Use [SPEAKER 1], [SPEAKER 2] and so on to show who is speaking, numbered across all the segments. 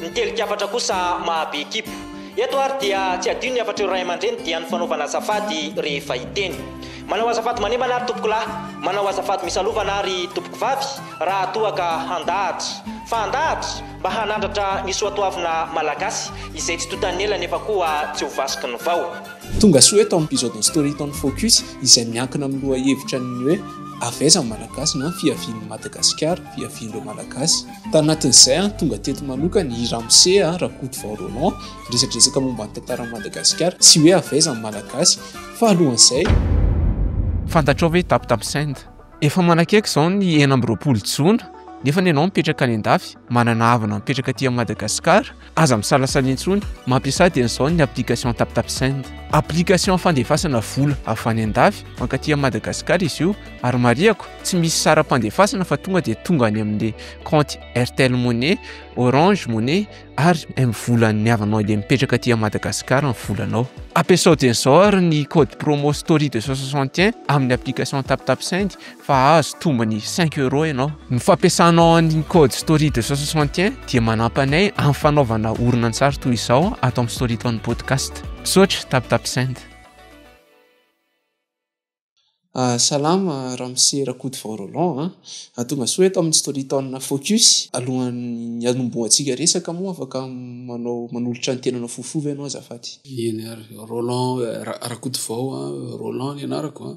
[SPEAKER 1] Ny teli-kafatra kosa mahabe ekipo. Eto ary dia tsy adino ny hafatr'ireo ray aman-dreny dia ny fanaovana azafady rehefa hiteny. Manao azafady manembana ary tompokolahy, manao azafady misalovana ary tompokovavy raha toa ka handahatra. Fa handahatra? Mba hanandratra ny soatoavina malagasy izay tsy tontan'ny ela nefa koa tsy ho vasiky ny vao. Tonga soa eto amin'ny
[SPEAKER 2] Episode ny Storytown Focus izay miankina amin'ny lohahevitra ny hoe Avy aiza ny Malagasy na Fiavian'ny Madagasikara, Fiavian'ireo Malagasy. Tanatin'izay, tonga teto manokana i Ramose Rakotovao Roland, niresadresaka momba ny tantaran'i Madagasikara, tsy hoe avy aiza ny Malagasy, fa alohan'izay.
[SPEAKER 3] Fantatrao ve Tap Tap Send? Efa manakaiky izao ny enina amby roapolo jona, nefa ny anao mipetraka any an-dafy, manana havana mipetraka aty Madagasikara, Aza misalasala intsony, mampiasa ady an'izao ny application TapTapSend. Application fandefasana vola avy any an-dafy mankaty amin'i Madagasikara izy io ary marihako, tsy misy saram-pandefasana fa tonga dia tonga any amin'ny kaonty Airtel Money, Orange Money ary M-volan'ny havanao izay mipetraka aty Madagasikara ny volanao. Ampiasao dieny izao ary ny code promo story deux cent soixante et un amin'ny application TapTapSend fa azo tombony cinq euros ianao. Ny fampiasanao an'iny code story deux cent soixante et un dia manampy anay amin'ny fanaovana horonantsary toy izao ato amin'ny Storytown Podcast. Misaotra, TapTapSend. Salama
[SPEAKER 2] ramose rakotovao Roland a! Tongasoa eto amin'ny Storytown Focus. Alohan'ny hanombohantsika resaka moa afaka manao manolotra ny tenanao fohifohy ve ianao azafady? Eny ary
[SPEAKER 4] Roland Rakotovao Roland ny anarako a.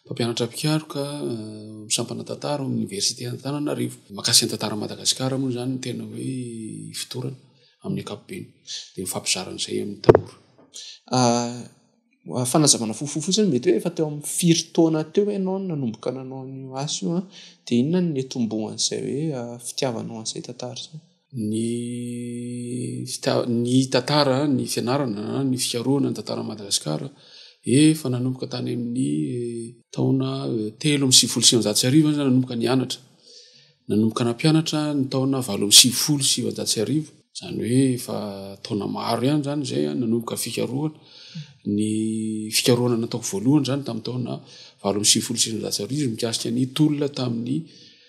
[SPEAKER 4] Mpampianatra mpikaroka, sampana tantara ao amin'ny Oniversite Antananarivo. Mahakasika ny tantaran'i Madagasikara moa izany ny tena hoe ifotorana amin'ny ankapobeny. Dia mifampizara an'izay amin'ny tanora.
[SPEAKER 2] Fanazavana fohifohy fotsiny, mety hoe efa teo amin'ny firy taona teo ianao no nanomboka nanao an'io asa io? Dia inona no niatombohan'izay hoe fitiavanao an'izay tantara izay? ny
[SPEAKER 4] fitiavana, ny tantara, ny fianarana, ny fikarohana ny tantaran'i Madagasikara efa nanomboka tany amin'ny taona telo amby sivifolo sy sivinjato sy arivo aho zany nanomboka nianatra, nanomboka nampianatra ny taona valo amby sivifolo sy sivinjato sy arivo, izany hoe efa taona maro ihany izany izay aho nanomboka fikarohana, ny fikarohana nataoko voalohany izany tamin'ny taona valo amby sivifolo sy sivinjato sy arivo mikasika ny tolona tamin'ny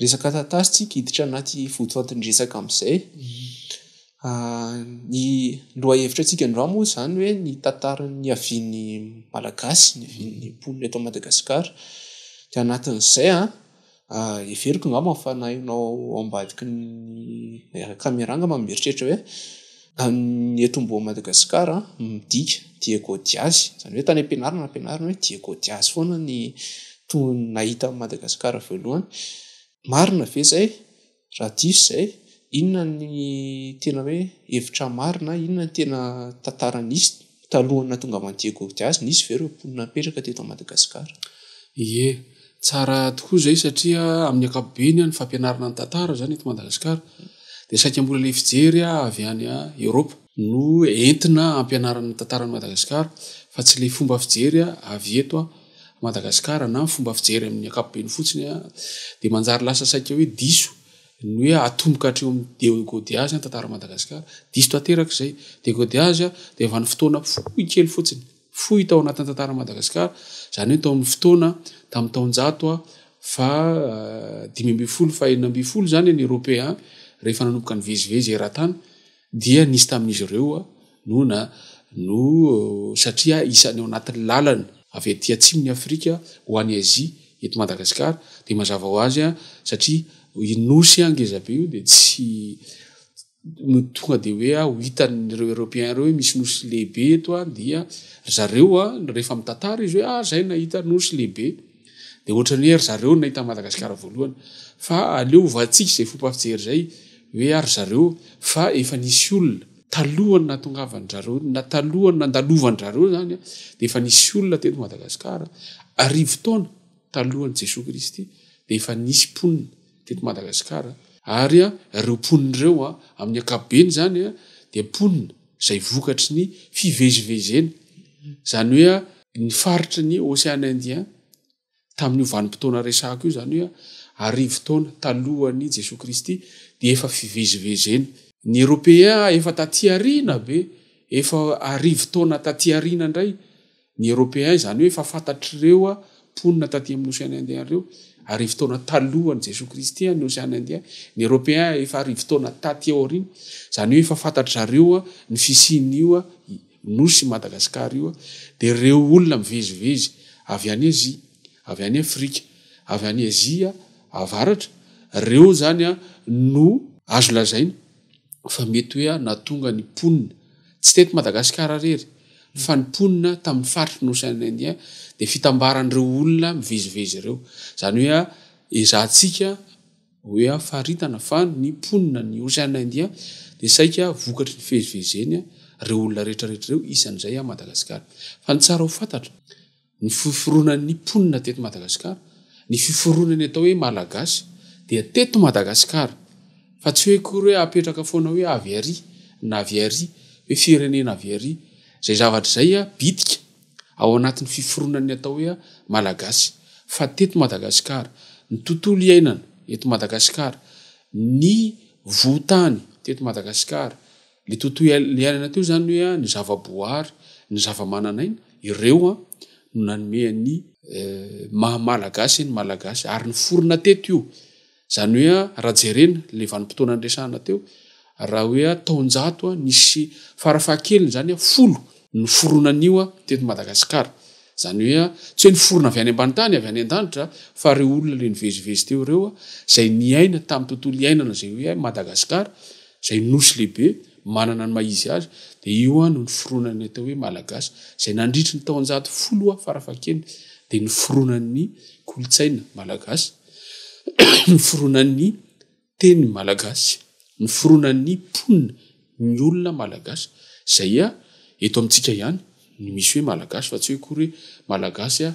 [SPEAKER 2] Resaka tantara tsika hiditra anaty votoatin-dresaka amin'izay. Ny lohahevitra antsika androany moa izany hoe ny tantara niavian'ny Malagasy, niavian'ny mponina eto Madagasikara. Dia anatin'izay heveriko angamba fa na ianao ao ambadiky ny caméra angamba mieritreritra hoe. Ny eto ambonin'i Madagasikara midika diego diazy izany hoe tany am-pianarana ampianarina hoe diego diazy foana ny tony nahita an'i Madagasikara voalohany, marina ve izay? raha diso izay inona ny tena hoe hevitra marina? inona ny tena tantara nisy? Talohan'ny nahatongavan'i Diego Diaz, nisy ve ireo mponina nipetraka teto Madagasikara? Ie.
[SPEAKER 4] Tsara tokoa izay satria amin'ny ankapobeny ny fampianarana ny tantara izany eto Madagasikara dia saika mbola ilay fijery avy any Eoropa no entina hampianarana ny tantaran'i Madagasikara fa tsy ilay fomba fijery avy eto Madagasikara na fomba fijery amin'ny ankapobeny fotsiny dia manjary lasa saika hoe diso ny hoe atomboka hatreo amin'ny degodeage ny tantaran'i Madagasikara, diso tanteraka izay, degodeage dia efa ny fotoana fohy kely fotsiny, fohy tao anatin'ny tantaran'i Madagasikara, izany hoe tao amin'ny fotoana tamin'ny taonjato fahadimy ambin'ny folo, fahenina ambin'ny folo izany ny Eropeana rehefa nanomboka nivezivezy eran-tany, Dia nisy tamin'izy ireo noana no satria isany ao anatin'ny lalana avy aty atsimon'i Afrika ho any Azia eto Madagasikara dia mazava ho azy satria io nosy ngeza be io dia tsy no tonga dia hoe ho hitan'ireo Européens ireo hoe misy nosy lehibe eto dia ry zareo rehefa mitatara izy hoe ah zay nahita nosy lehibe. dia ohatran'ny hoe ry zareo no nahita an'i Madagasikara voalohany fa aleo hovantsika izay fomba fijery izay hoe ary zareo fa efa nisy olona talohan'ny nahatongavan'ny zareo na talohan'ny nandalovan-dry zareo izany dia efa nisy olona teto Madagasikara arivo taona talohan'i Jesoa Kristy dia efa nisy mponina teto Madagasikara ary ireo mponina ireo amin'ny ankapobeny izany dia mponina izay vokatry ny fivezivezena, izany hoe ny faritry ny Ocean Indien tamin'io vanim-potoana resahako io, izany hoe arivo taona talohan'i Jesoa Kristy, dia efa fivezivezena. Ny Européens efa taty aoriana be, efa arivo taona taty aoriana indray, Ny Européens, izany hoe efa fantatr'ireo mponina taty amin'ny Ocean Indien ireo, arivo taona talohan'i Jesoa Kristy, ny Ocean Indien. Ny Européens efa arivo taona taty aoriana, izany hoe efa fantatry zareo ny fisian'io nosy i Madagasikara io, dia ireo olona mivezivezy avy any Azia, avy any Afrika, avy any Azia Avaratra, ireo izany no azo lazaina fa mety hoe aho nahatonga ny mponina, tsy teto Madagasikara irery, fa ny mponina tamin'ny faritry ny Ocean Indien dia fitambaran'ireo olona mivezivezy ireo. Izany hoe ezahantsika hoe faritana fa ny mponina ny Ocean Indien dia saika vokatry ny fivezivezeny ireo olona rehetra rehetra ireo isan'izay Madagasikara. Fa ny tsara ho fantatra. Ny fiforonan'ny mponina teto Madagasikara, ny fiforonan'ny atao hoe Malagasy dia teto Madagasikara fa tsy hoe akory hoe apetraka foana hoe avy ary na avy ary hoe firenena avy ary izay zavatra izay bitika ao anatin'ny fiforonan'ny atao hoe Malagasy fa teto Madagasikara ny tontolo iainana eto Madagasikara, ny vohotany teto Madagasikara. Ny tontolo iainana teo izany hoe ny zava-boahary, ny zava-manan'aina, ireo no nanome an'ny maha Malagasy ny Malagasy ary niforona teto io. Izany hoe raha jerena ilay vanim-potoana niresahana teo, raha hoe taonjato nisy fara fahakeliny izany folo no niforona an'io teto Madagasikara. Izany hoe tsy hoe niforona avy any ambany tany, avy any an-danitra, fa ireo olona ilay nivezivezy teo ireo izay niaina tamin'ny tontolo iainana izay hoe Madagasikara. izay nosy lehibe manana ny maha izy azy, dia io no niforonan'ny atao hoe Malagasy, izay nandritry ny taonjato folo farafakeny dia niforonan'ny kolontsaina Malagasy, niforonan'ny teny Malagasy, niforonan'ny mponina, ny olona Malagasy, izay eto amintsika ihany no misy hoe Malagasy fa tsy hoe akory hoe Malagasy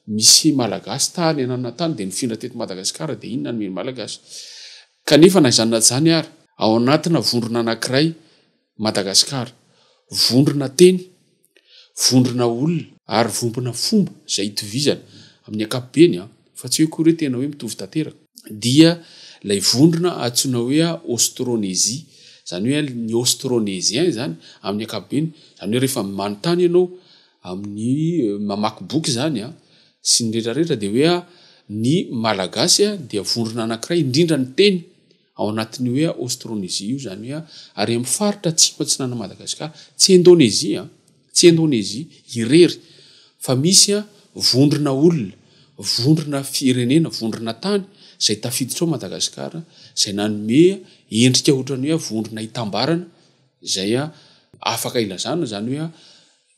[SPEAKER 4] misy Malagasy tany ananana tany dia nifindra teto Madagasikara dia iny nanome ny Malagasy. Kanefa na izany na izany ary, ao anatina vondrona anankiray Madagasikara, vondrona teny, vondrona olona, ary vompona fomba izay itovizana amin'ny ankapobeny, fa tsy hoe koa re tena hoe mitovy tanteraka, dia ilay vondrona antsoina hoe Aostrônezia, izany hoe ny Aostrôneziens izany amin'ny ankapobeny, izany hoe rehefa manontany ianao amin'ny mamaky boky izany, sy ny rehetra rehetra dia hoe ny Malagasy dia vondrona anankiray indrindra ny teny ao anatin'io hoe Aostrônezia io izany hoe ary amin'ny faritra atsimo atsinanan'i Madagasikara tsy Indônezia tsy Indônezia irery fa misy vondrona olona vondrona firenena vondrona tany izay tafiditra ao Madagasikara izay nanome endrika ohatran'ny hoe vondrona hitambarana izay afaka ilazana izany hoe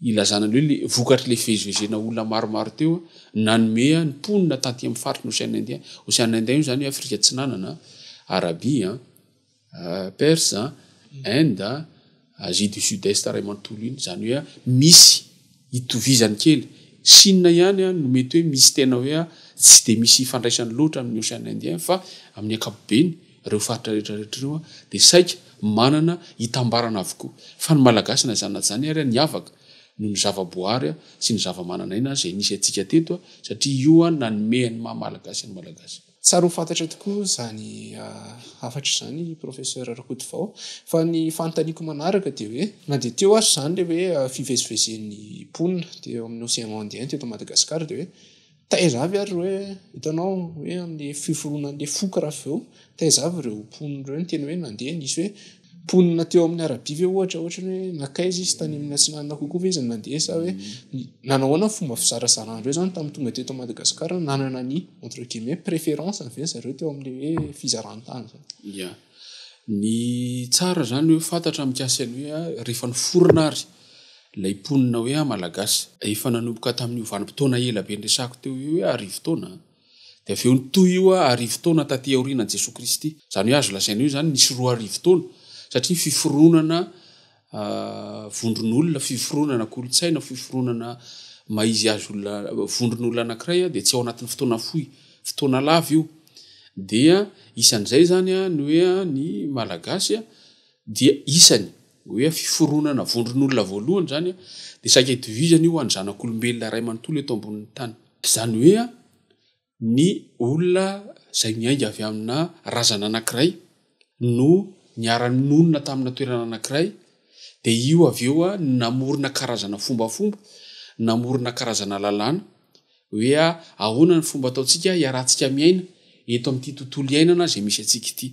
[SPEAKER 4] Ilazana ny hoe le vokatr'ilay fivezivezena olona maromaro teo nanome ny mponina taty amin'ny faritry ny Ocean Indien. Ocean Indien io izany hoe Afrika Atsinanana, Arabia, Persa, Inde, Asie du Sud-Est iray manontolo iny. Izany hoe misy itovizany kely. Chine ihany no mety hoe misy tena hoe tsy dia misy ifandraisany loatra amin'ny Ocean Indien fa amin'ny ankapobeny. Ireo faritra rehetra rehetra ireo dia saika manana itambarana avokoa. Fa ny Malagasy na izany na izany ary niavaka noho ny zava-boahary sy ny zava-manan'aina izay nisy antsika teto satria io nanome ny maha Malagasy ny Malagasy. Tsara ho fantatra
[SPEAKER 2] tokoa izany hafatra izany Professeur Rakotovao. Fa ny fanontaniako manaraka dia hoe na dia teo aza izany ilay hoe fivezivezen'ny mponina teo amin'ny Océan Indien teto Madagasikara dia hoe Taiza avy ary hoe hitanao hoe amin'ilay fiforonan'ilay foko raha avy eo taiza avy ireo mponina ireo niteny hoe nandeha nisy hoe mponina teo amin'ny arabia ve ohatra ohatra ny hoe nankaiza izy tany amin'ny atsinanana kokoa ve izy nandeha sa hoe nanao ahoana ny fomba fizarazarana an'ireo izany tamin'ny tonga teto Madagasikara nanana ny entre guillemets préférence ve zareo teo amin'ilay hoe fizaran-tany izany. Ia.
[SPEAKER 4] Ny tsara izany hoe fantatra mikasika ny hoe rehefa niforona ary ilay mponina hoe Malagasy. Efa nanomboka tamin'io vanim-potoana ela be niresahako teo io hoe arivo taona. Dia avy eo nitohy io arivo taona taty aorianan'i Jesoa Kristy. Izany hoe azo lazaina hoe izany nisy roa arivo taona satria fiforonana vondron'olona, fiforonana, kolontsaina, fiforonana mahizy azy olona, vondron'olona anankiray dia tsy ao anatin'ny fotoana fohy, fotoana lava io. Dia isan'izay zany ny hoe ny Malagasy dia isany hoe fiforonana vondron'olona voalohany zany dia saika itovizany io any zanak'olombelona iray manontolo eto ambonin'ny tany. Zany hoe ny olona izay miainga avy amina razana anankiray no niara-nonina tamina toerana anankiray dia io avy eo no namorona karazana fombafomba, namorona karazana lalàna hoe ahoana ny fomba ataontsika hiarahantsika miaina eto amin'ity tontolo iainana izay misy antsika ity.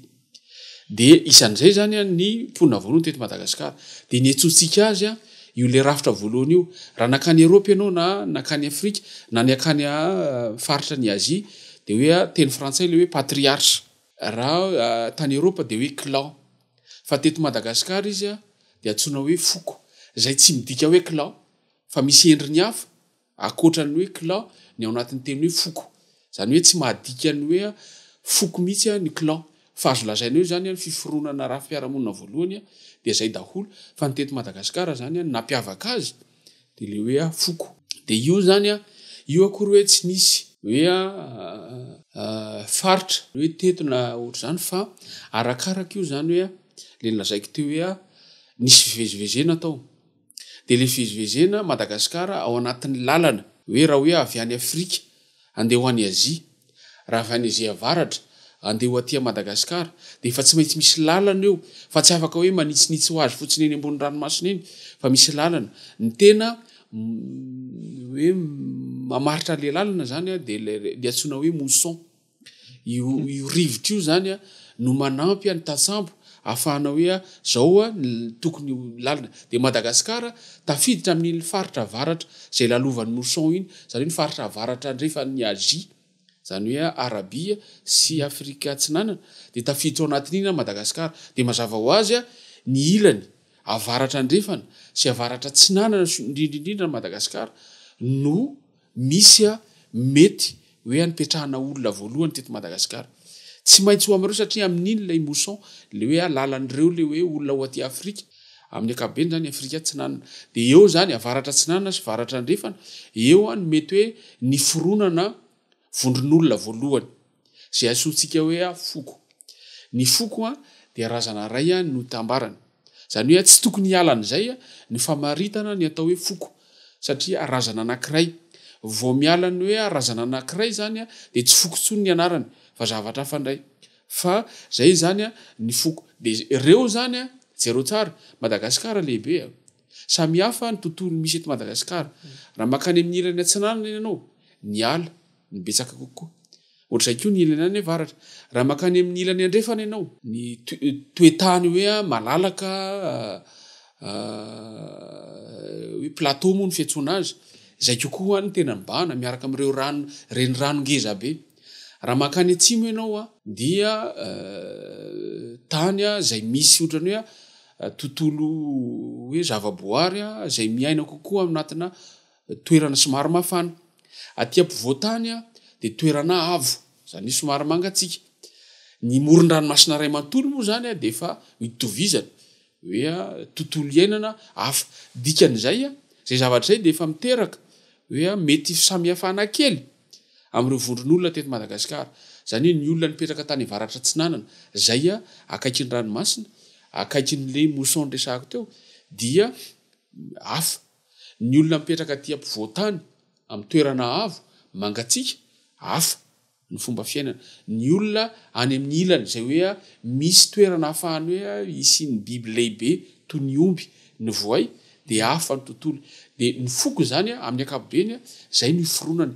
[SPEAKER 4] Dia isan'izay izany ny mponina voalohany teto Madagasikara. Dia niantsoantsika azy io ilay rafitra voalohany io. Raha nankany Eropa ianao na nankany Afrika na niankany faritra ny Azia dia hoe teny frantsay ilay hoe patriarche. Raha tany Eropa dia hoe clan. Fa teto Madagasikara izy dia antsoina hoe foko. Izay tsy midika hoe clan fa misy endriny hafa. Ankoatra ny hoe clan, ny ao anatin'ny teny hoe foko. Izany hoe tsy mahadika ny hoe foko mihitsy ny clan. Fa azo lazaina eo izany ny fiforonana ara-fiarahamonina voalohany dia izay daholo. Fa ny teto Madagasikara izany ny nampiavaka azy dia ilay hoe foko. Dia io izany, io akory hoe tsy nisy hoe faritra hoe teto na ohatr'izany fa arakaraka io izany hoe ilay nolazaiko teo hoe nisy fivezivezena tao. dia ilay fivezivezena Madagasikara ao anatin'ny lalana hoe raha hoe avy any Afrika andeha ho any Azia, raha avy any Azia avaratra andeha ho aty Madagasikara dia efa tsy maintsy misy lalana eo fa tsy afaka hoe manitsinitsy ho azy fotsiny eny ambony ranomasina eny fa misy lalana. Ny tena hoe mamaritra ilay lalana izany dia ilay antsoina hoe mousson. Io rivotra io izany no manampy an'ny tantsambo hahafahana hoe izao ny tokony ho lalina. Dia i Madagasikara tafiditra amin'iny faritra avaratra izay lalovan'ny mousson iny, izany hoe ny faritra avaratra andrefan'i Azia, izany hoe Arabia sy Afrika Atsinanana, dia tafiditra ao anatin'iny i Madagasikara. Dia mazava ho azy ny ilany avaratra andrefana sy avaratra atsinanana indrindra indrindra an'i Madagasikara no... misy mety hoe anipetrahana olona voalohany teto Madagasikara. Tsy maintsy ho amin'ireo satria amin'iny ilay mousson, ilay hoe lalan'ireo ilay hoe olona ao aty Afrika, amin'ny ankapobeny izany Afrika Atsinanana. Dia eo izany, Avaratra Atsinanana sy Varatra Andrefana, eo no mety hoe niforonana vondron'olona voalohany. izay antsointsika hoe foko. Ny foko dia razana iray no tambarany. Izany hoe tsy tokony hiala an'izay ny famaritana ny atao hoe foko satria razana anankiray. Vao miala ny hoe razana anankiray izany dia tsy foko intsony ny anarany fa zavatra hafa indray. Fa izay izany ny foko. Dia ireo izany, jereo tsara, Madagasikara lehibe. Samihafa ny tontolo misy eto Madagasikara. Raha mankany amin'ny ilany atsinanana ianao, ny ala. no betsaka kokoa. Ohatr'izay koa ny ilany any avaratra. Raha mankany amin'ny ilany andrefana ianao, ny toe-tany hoe malalaka, hoe plateau moa ny fiantsoana azy, izay kokoa ny tena mibahana miaraka amin'ireo rano, renirano ngeza be. Raha mankany atsimo ianao dia tany izay misy ohatran'ny hoe tontolo hoe zavaboary izay miaina kokoa ao anatina toerana somary mafana. Aty ampovoan-tany dia toerana avo, izany hoe somary mangatsiaka. Ny moron-dranomasina iray manontolo moa izany dia efa itovizana hoe tontolo iainana hafa. Dikan'izay, izay zavatra izay dia efa miteraka hoe mety fisamihafana kely amin'ireo vondron'olona teto Madagasikara. Izany hoe ny olona nipetraka tany avaratra atsinanana, izay akaiky ny ranomasina, akaiky an'ilay mousson niresahako teo dia hafa. Ny olona mipetraka aty ampovoan-tany, amin'ny toerana avo, mangatsiaka, hafa ny fomba fiainana. Ny olona any amin'ny ilany, izay hoe misy toerana ahafahany hoe hisian'ny biby lehibe toy ny omby, ny voay, dia hafa ny tontolo. Dia ny foko izany, amin'ny ankapobeny, izay no iforonany,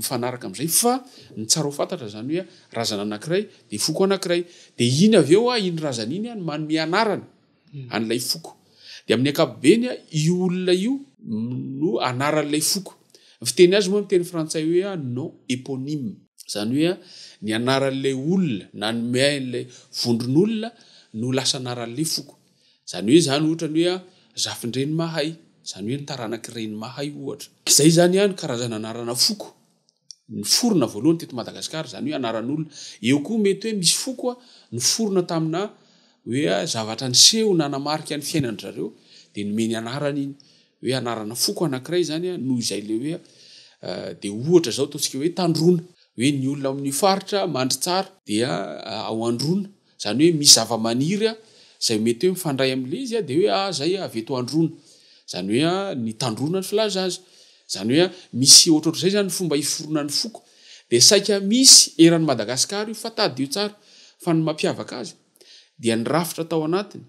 [SPEAKER 4] mifanaraka amin'izay. Fa ny tsara ho fantatra izany hoe razana anankiray dia foko anankiray. Dia iny avy eo, iny razana iny no manome anarana. an'ilay foko. Dia amin'ny ankapobeny, io olona io no anaran'ilay foko. Ny fiteny azy moa amin'ny teny frantsay hoe nom éponyme. Izany hoe ny anaran'ilay olona nanome ahy an'ilay vondron'olona no lasa anaran'ilay foko. Izany hoe izany ohatra ny hoe Zafindrenimahay, izany hoe ny taranak'i Renimahay ohatra. Izay izany ny karazana anarana foko. niforona voalohany teto Madagasikara, izany hoe anaran'olona. Eo koa mety hoe misy foko niforona tamina hoe zavatra niseho nanamarika ny fiainan'dry zareo dia nomeny anarana iny. Hoe anarana foko anankiray izany noho izay ilay hoe dia ohatra izao ataontsika hoe Tandroana. Hoe ny olona ao amin'io faritra mandry tsara dia ao Androana. Izany hoe misy zavamaniry izay mety hoe mifandray amin'ilay izy dia hoe ah izay ah avy eto androana. Izany hoe ah ny tandroana no filaza azy. Izany hoe ah misy ohatrohatr'izay izany ny fomba hiforonan'ny foko. Dia saika misy eran'i Madagasikara io fa tadidio tsara fa ny mampiavaka azy dia ny rafitra tao anatiny,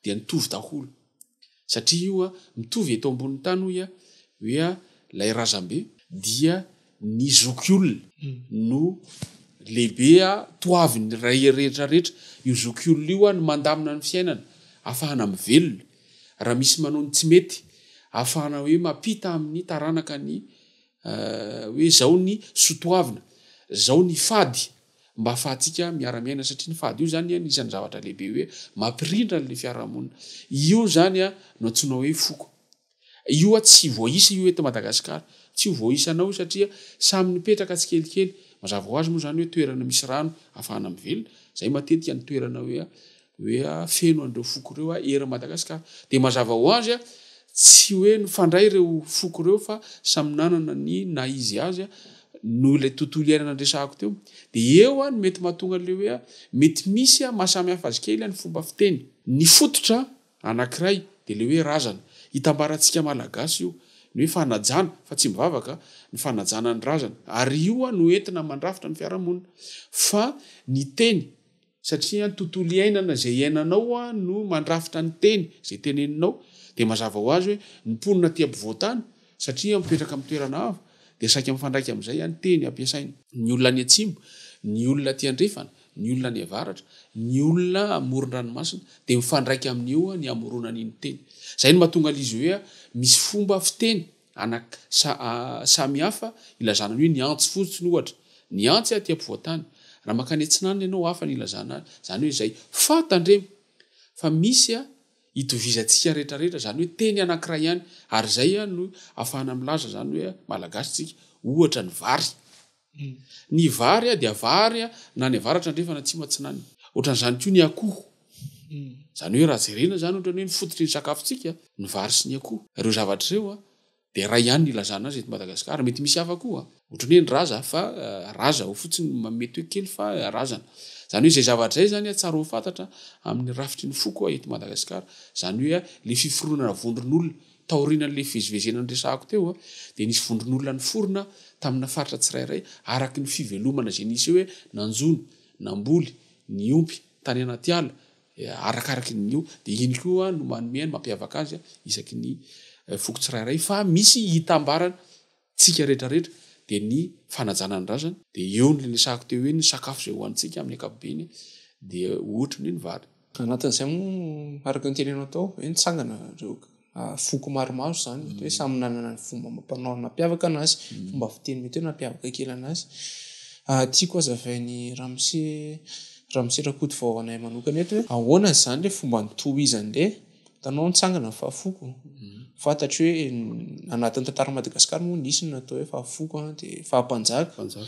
[SPEAKER 4] dia nitovy daholo satria io a mitovy eto ambon'ny tany hoy a hoe a ilay razambe dia ny zokiolona no lehibe a toaviny ray rehetra rehetra io zokiolona io a ny mandamina ny fiainana afahana mivelona raha misy manao ny tsy mety afahana hoe mampita amin'ny taranaka ny hoe zao ny sotoavina zao ny fady mba afahantsika miara-miaina satria ny fady io zany anisan'ny zavatra lehibe hoe mampirindra an'le fiarahamonina. Io zany no antsoina hoe foko. Io tsy voaisa io eto Madagasikara. Tsy ho voaisanao io satria samy nipetraka tsikelikely. Mazava ho azy moa zany hoe toerana misy rano afahana mivelona. Zay matetika ny toerana hoe Hoe feno an'ireo foko ireo ery Madagasikara. Dia mazava ho azy, tsy hoe nifandray ireo foko ireo fa samy nanana ny naha izy azy noho ilay tontolo iainana niresahako teo. Dia eo no mety mahatonga an'ilay hoe mety misy mahasamihafa azy kely ny fomba fiteny. Ny fototra anankiray dia ilay hoe razana. Hitambarantsika Malagasy io ny hoe fanajana, fa tsy mivavaka, ny fanajana ny razana. Ary io no entina mandrafitra ny fiarahamonina. Fa ny teny. satria ny tontolo iainana izay iainanao no mandrafitra ny teny izay teneninao, dia mazava ho azy hoe ny mponina aty ampovoan-tany, satria mipetraka amin'ny toerana avo, dia saika mifandraika amin'izay ihany teny ampiasaina. Ny olona any atsimo, ny olona aty andrefana, ny olona any avaratra, ny olona amoron-dranomasina, dia mifandraika amin'io ny hamoronany ny teny. Izay no mahatonga il'izy hoe misy fomba fiteny. Anaka, sa, a, samy hafa, ilazana ny hoe ny antsy fotsiny ohatra, ny antsy aty ampovoan-tany. Raha mankany atsinanana ianao hafa ny ilazana azy, izany hoe izay. Fa tandremo, fa misy, a, itovizantsika rehetra rehetra, izany hoe teny anankiray ihany, ary izay, a, no ahafahana milaza izany hoe malagasy tsika, ohatra ny vary. Ny vary dia vary na any avaratra andrefana atsimo atsinanana. Ohatran'izany koa ny akoho. Izany hoe raha jerena izany ohatran'ny hoe ny fototry ny sakafontsika ny vary sy ny akoho. Ireo zavatra ireo dia iray ihany ny ilazana azy eto Madagasikara. Mety misy hafa koa ohatran'ny hoe ny raza fa raza ao fotsiny no mety hoe kely fa razana. Izany hoe izay zavatra izay izany tsara ho fantatra amin'ny rafitry ny foko eto Madagasikara. Izany hoe ilay fiforonana vondron'olona. Taorian'ilay fivezivezena niresahako teo dia nisy vondron'olona niforona tamina faritra tsirairay araka ny fivelomana izay nisy eo hoe nanjono, namboly, niompy tany anaty ala arakaraky ny eo dia iny koa no manome ny mampiavaka azy isaky ny foko tsirairay fa misy hitambarany. Tsika rehetra rehetra dia ny fanajana ny razany dia eo ny renesahako teo hoe ny sakafo izay hohanintsika amin'ny ankapobeny dia ohatry ny ny vary. Anatin'izay moa
[SPEAKER 2] araka ny tenenao tao hoe nitsangana ireo foko maromaro izany mety hoe samy nanana ny fomba amam-panao nampiavaka anazy, fomba fiteny mety hoe nampiavaka kely anazy. Tiako hazavain'i Ramose Ramose Rakotovao ho anay manokana eto hoe ahoana izany ilay fomba nitohizan'ilay Hitanao nitsangana ny fahafoko. Fantatro hoe anatin'ny tantaran'i Madagasikara moa nisy ny natao hoe fahafoko an, dia fahampanjaka. Mpanjaka.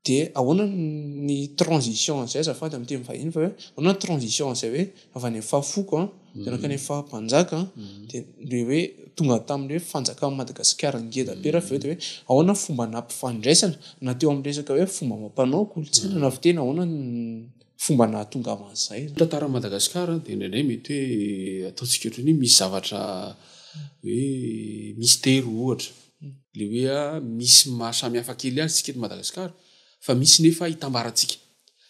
[SPEAKER 2] Dia ahoana ny transition an'izay azafady amin'ny teny vahiny fa hoe ahoana ny transition an'izay hoe avy any amin'ny fahafoko an, dia nankany amin'ny fahampanjaka an, dia ilay hoe tonga tamin'ny hoe fanjakan'i Madagasikara ngeda be raha avy eo dia hoe ahoana ny fomba nampifandraisana na teo amin'ny resaka hoe fomba amam-panao, kolontsaina na fiteny ahoana ny fomba nahatonga aho an'izay. Ny tantaran'i Madagasikara
[SPEAKER 4] dia indraindray mety hoe ataontsika ohatran'ny hoe misy zavatra hoe mystère ohatra, ilay hoe a misy ny maha samy hafa kely azy isika eto Madagasikara fa misy nefa hitambarantsika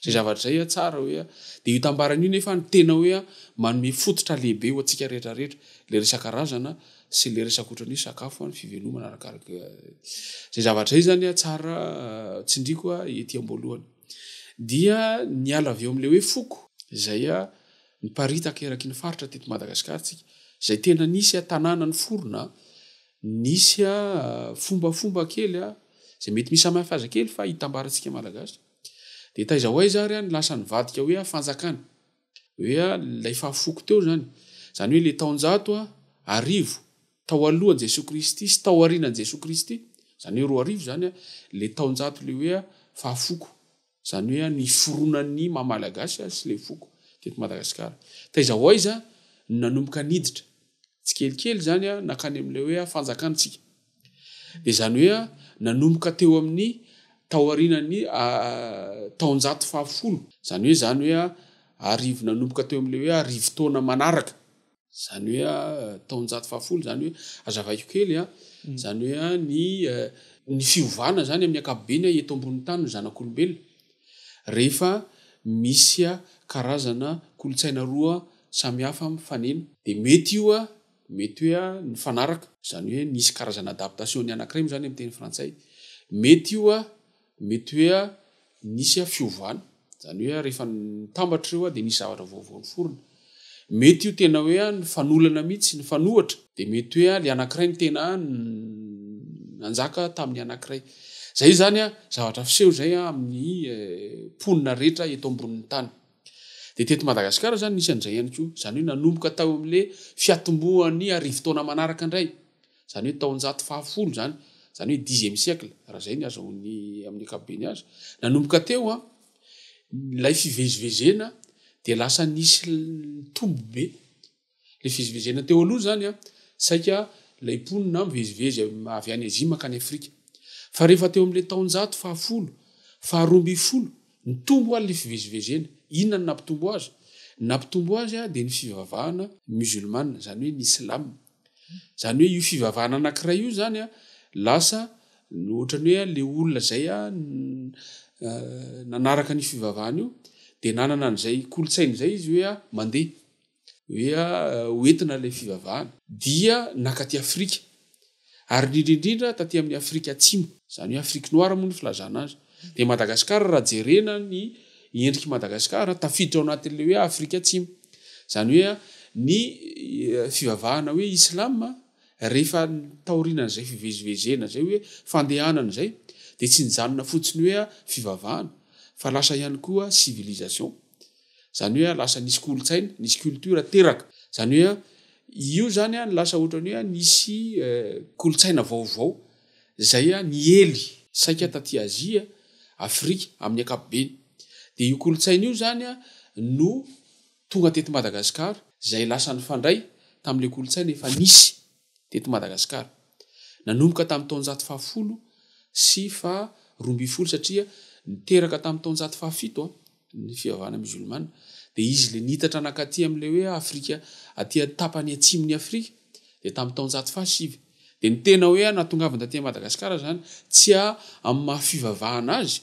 [SPEAKER 4] izay zavatra izay a tsara hoe a dia io tambarana io nefa ny tena hoe a manome fototra lehibe ho antsika rehetra rehetra ilay resaka razana sy ilay resaka ohatran'ny hoe sakafo a ny fivelomana arakaraka izay zavatra izay izany a tsara tsindriako a ety am-boalohany. dia niala avy eo amin'ilay hoe foko izay niparitaka eraky ny faritra teto Madagasikara tsika izay tena nisy a tanàna ny forona nisy a fombafomba kely a izay mety misy samihafa aza kely fa hitambarantsika malagasy dia taiza ho aiza ary a ny lasa nivadika hoe a fanjakana hoe ilay fahafoko teo izany, izany hoe ilay taonjato arivo tao alohan'i Jesoa Kristy sy tao aorianan'i Jesoa Kristy, izany hoe roa arivo izany, ilay taonjato ilay hoe fahafoko, izany hoe ny fironan'ny maha Malagasy sy ilay foko teto Madagasikara. Taiza ho aiza no nanomboka niditra tsikelikely izany nankany amin'ilay hoe fanjakantsika. Dia izany hoe nanomboka teo amin'ny taorianan'ny taonjato fahafolo, izany hoe izany hoe arivo nanomboka teo amin'ilay hoe arivo taona manaraka, izany hoe taonjato fahafolo, izany hoe hazavaiko kely a, izany hoe ny ny fiovana izany amin'ny ankapobeny eto ambonin'ny tany ny zanak'olombelona rehefa misy karazana kolontsaina roa samihafa mifanena dia mety io a! Mety hoe a nifanaraka, izany hoe nisy karazana adaptation-ny anankiray moa izany amin'ny teny frantsay. Mety io a mety hoe a nisy a fiovana, izany hoe a rehefa nitambatra ireo a dia nisy zavatra vaovao niforona. Mety io tena hoe a nifanolana mihitsy, nifanohitra, dia mety hoe a ilay anankiray no tena a nanjaka tamin'ny anankiray. Izay izany a zavatra fiseho izay a amin'ny mponina rehetra eto ambonin'ny tany. Dia teto Madagasikara izany nisy an'izay ihany koa. Izany hoe nanomboka tao amin'ilay fiatombohan'ny arivo taona manaraka indray. Izany hoe taonjato fahafolo izany. Izany hoe dixième siècle, raha izay ny azahoan'ny amin'ny ankapobeny azy. Nanomboka teo an, ilay fivezivezena dia lasa nisy nitombo be. Ilay fivezivezena teo aloha izany, saika ilay mponina mivezivezy avy any Azia mankany Afrika. Fa rehefa teo amin'ilay taonjato fahafolo, faharoa ambin'ny folo, nitombo àry ilay fivezivezena. Inona no nampitombo azy? Ny nampitombo azy dia ny fivavahana mizolmana, izany hoe ny Islam. Izany hoe io fivavahana anankiray io izany lasa ohatran'ny hoe ilay olona izay nanaraka an'io fivavahana io dia nanana an'izay kolontsaina izay izy hoe mandeha. hoe ho entina ilay fivavahana dia nakaty Afrika ary indrindra indrindra taty amin'ny Afrika Atsimo izany hoe Afrique noire moa ny filazana azy dia Madagasikara raha jerena ny endrik'i Madagasikara tafiditra ao anatin'ilay hoe Afrika Atsimo izany hoe ny fivavahana hoe Islam rehefa taoriana izay fivezivezena izay hoe fandehanana izay dia tsy nijanona fotsiny hoe fivavahana fa lasa ihany koa civilisation Izany hoe lasa nisy kolontsaina, nisy culture teraka. Izany hoe io izany lasa ohatran'ny hoe nisy kolontsaina vaovao izay niely saika taty Azia, Afrika amin'ny ankapobeny. Dia io kolontsaina io izany no tonga teto Madagasikara izay lasa nifandray tamin'ilay kolontsaina efa nisy. teto Madagasikara. Nanomboka tamin'ny taonjato fahafolo sy faha roa ambin'ny folo satria niteraka tamin'ny taonjato fahafito ny fivavahana mizolmana dia izy ilay niitatra nankaty amin'ilay hoe Afrika aty an-tapany atsimon'i Afrika dia tamin'ny taonjato faha sivy dia ny tena hoe nahatongavany taty Madagasikara izany tsy amin'ny maha fivavahana azy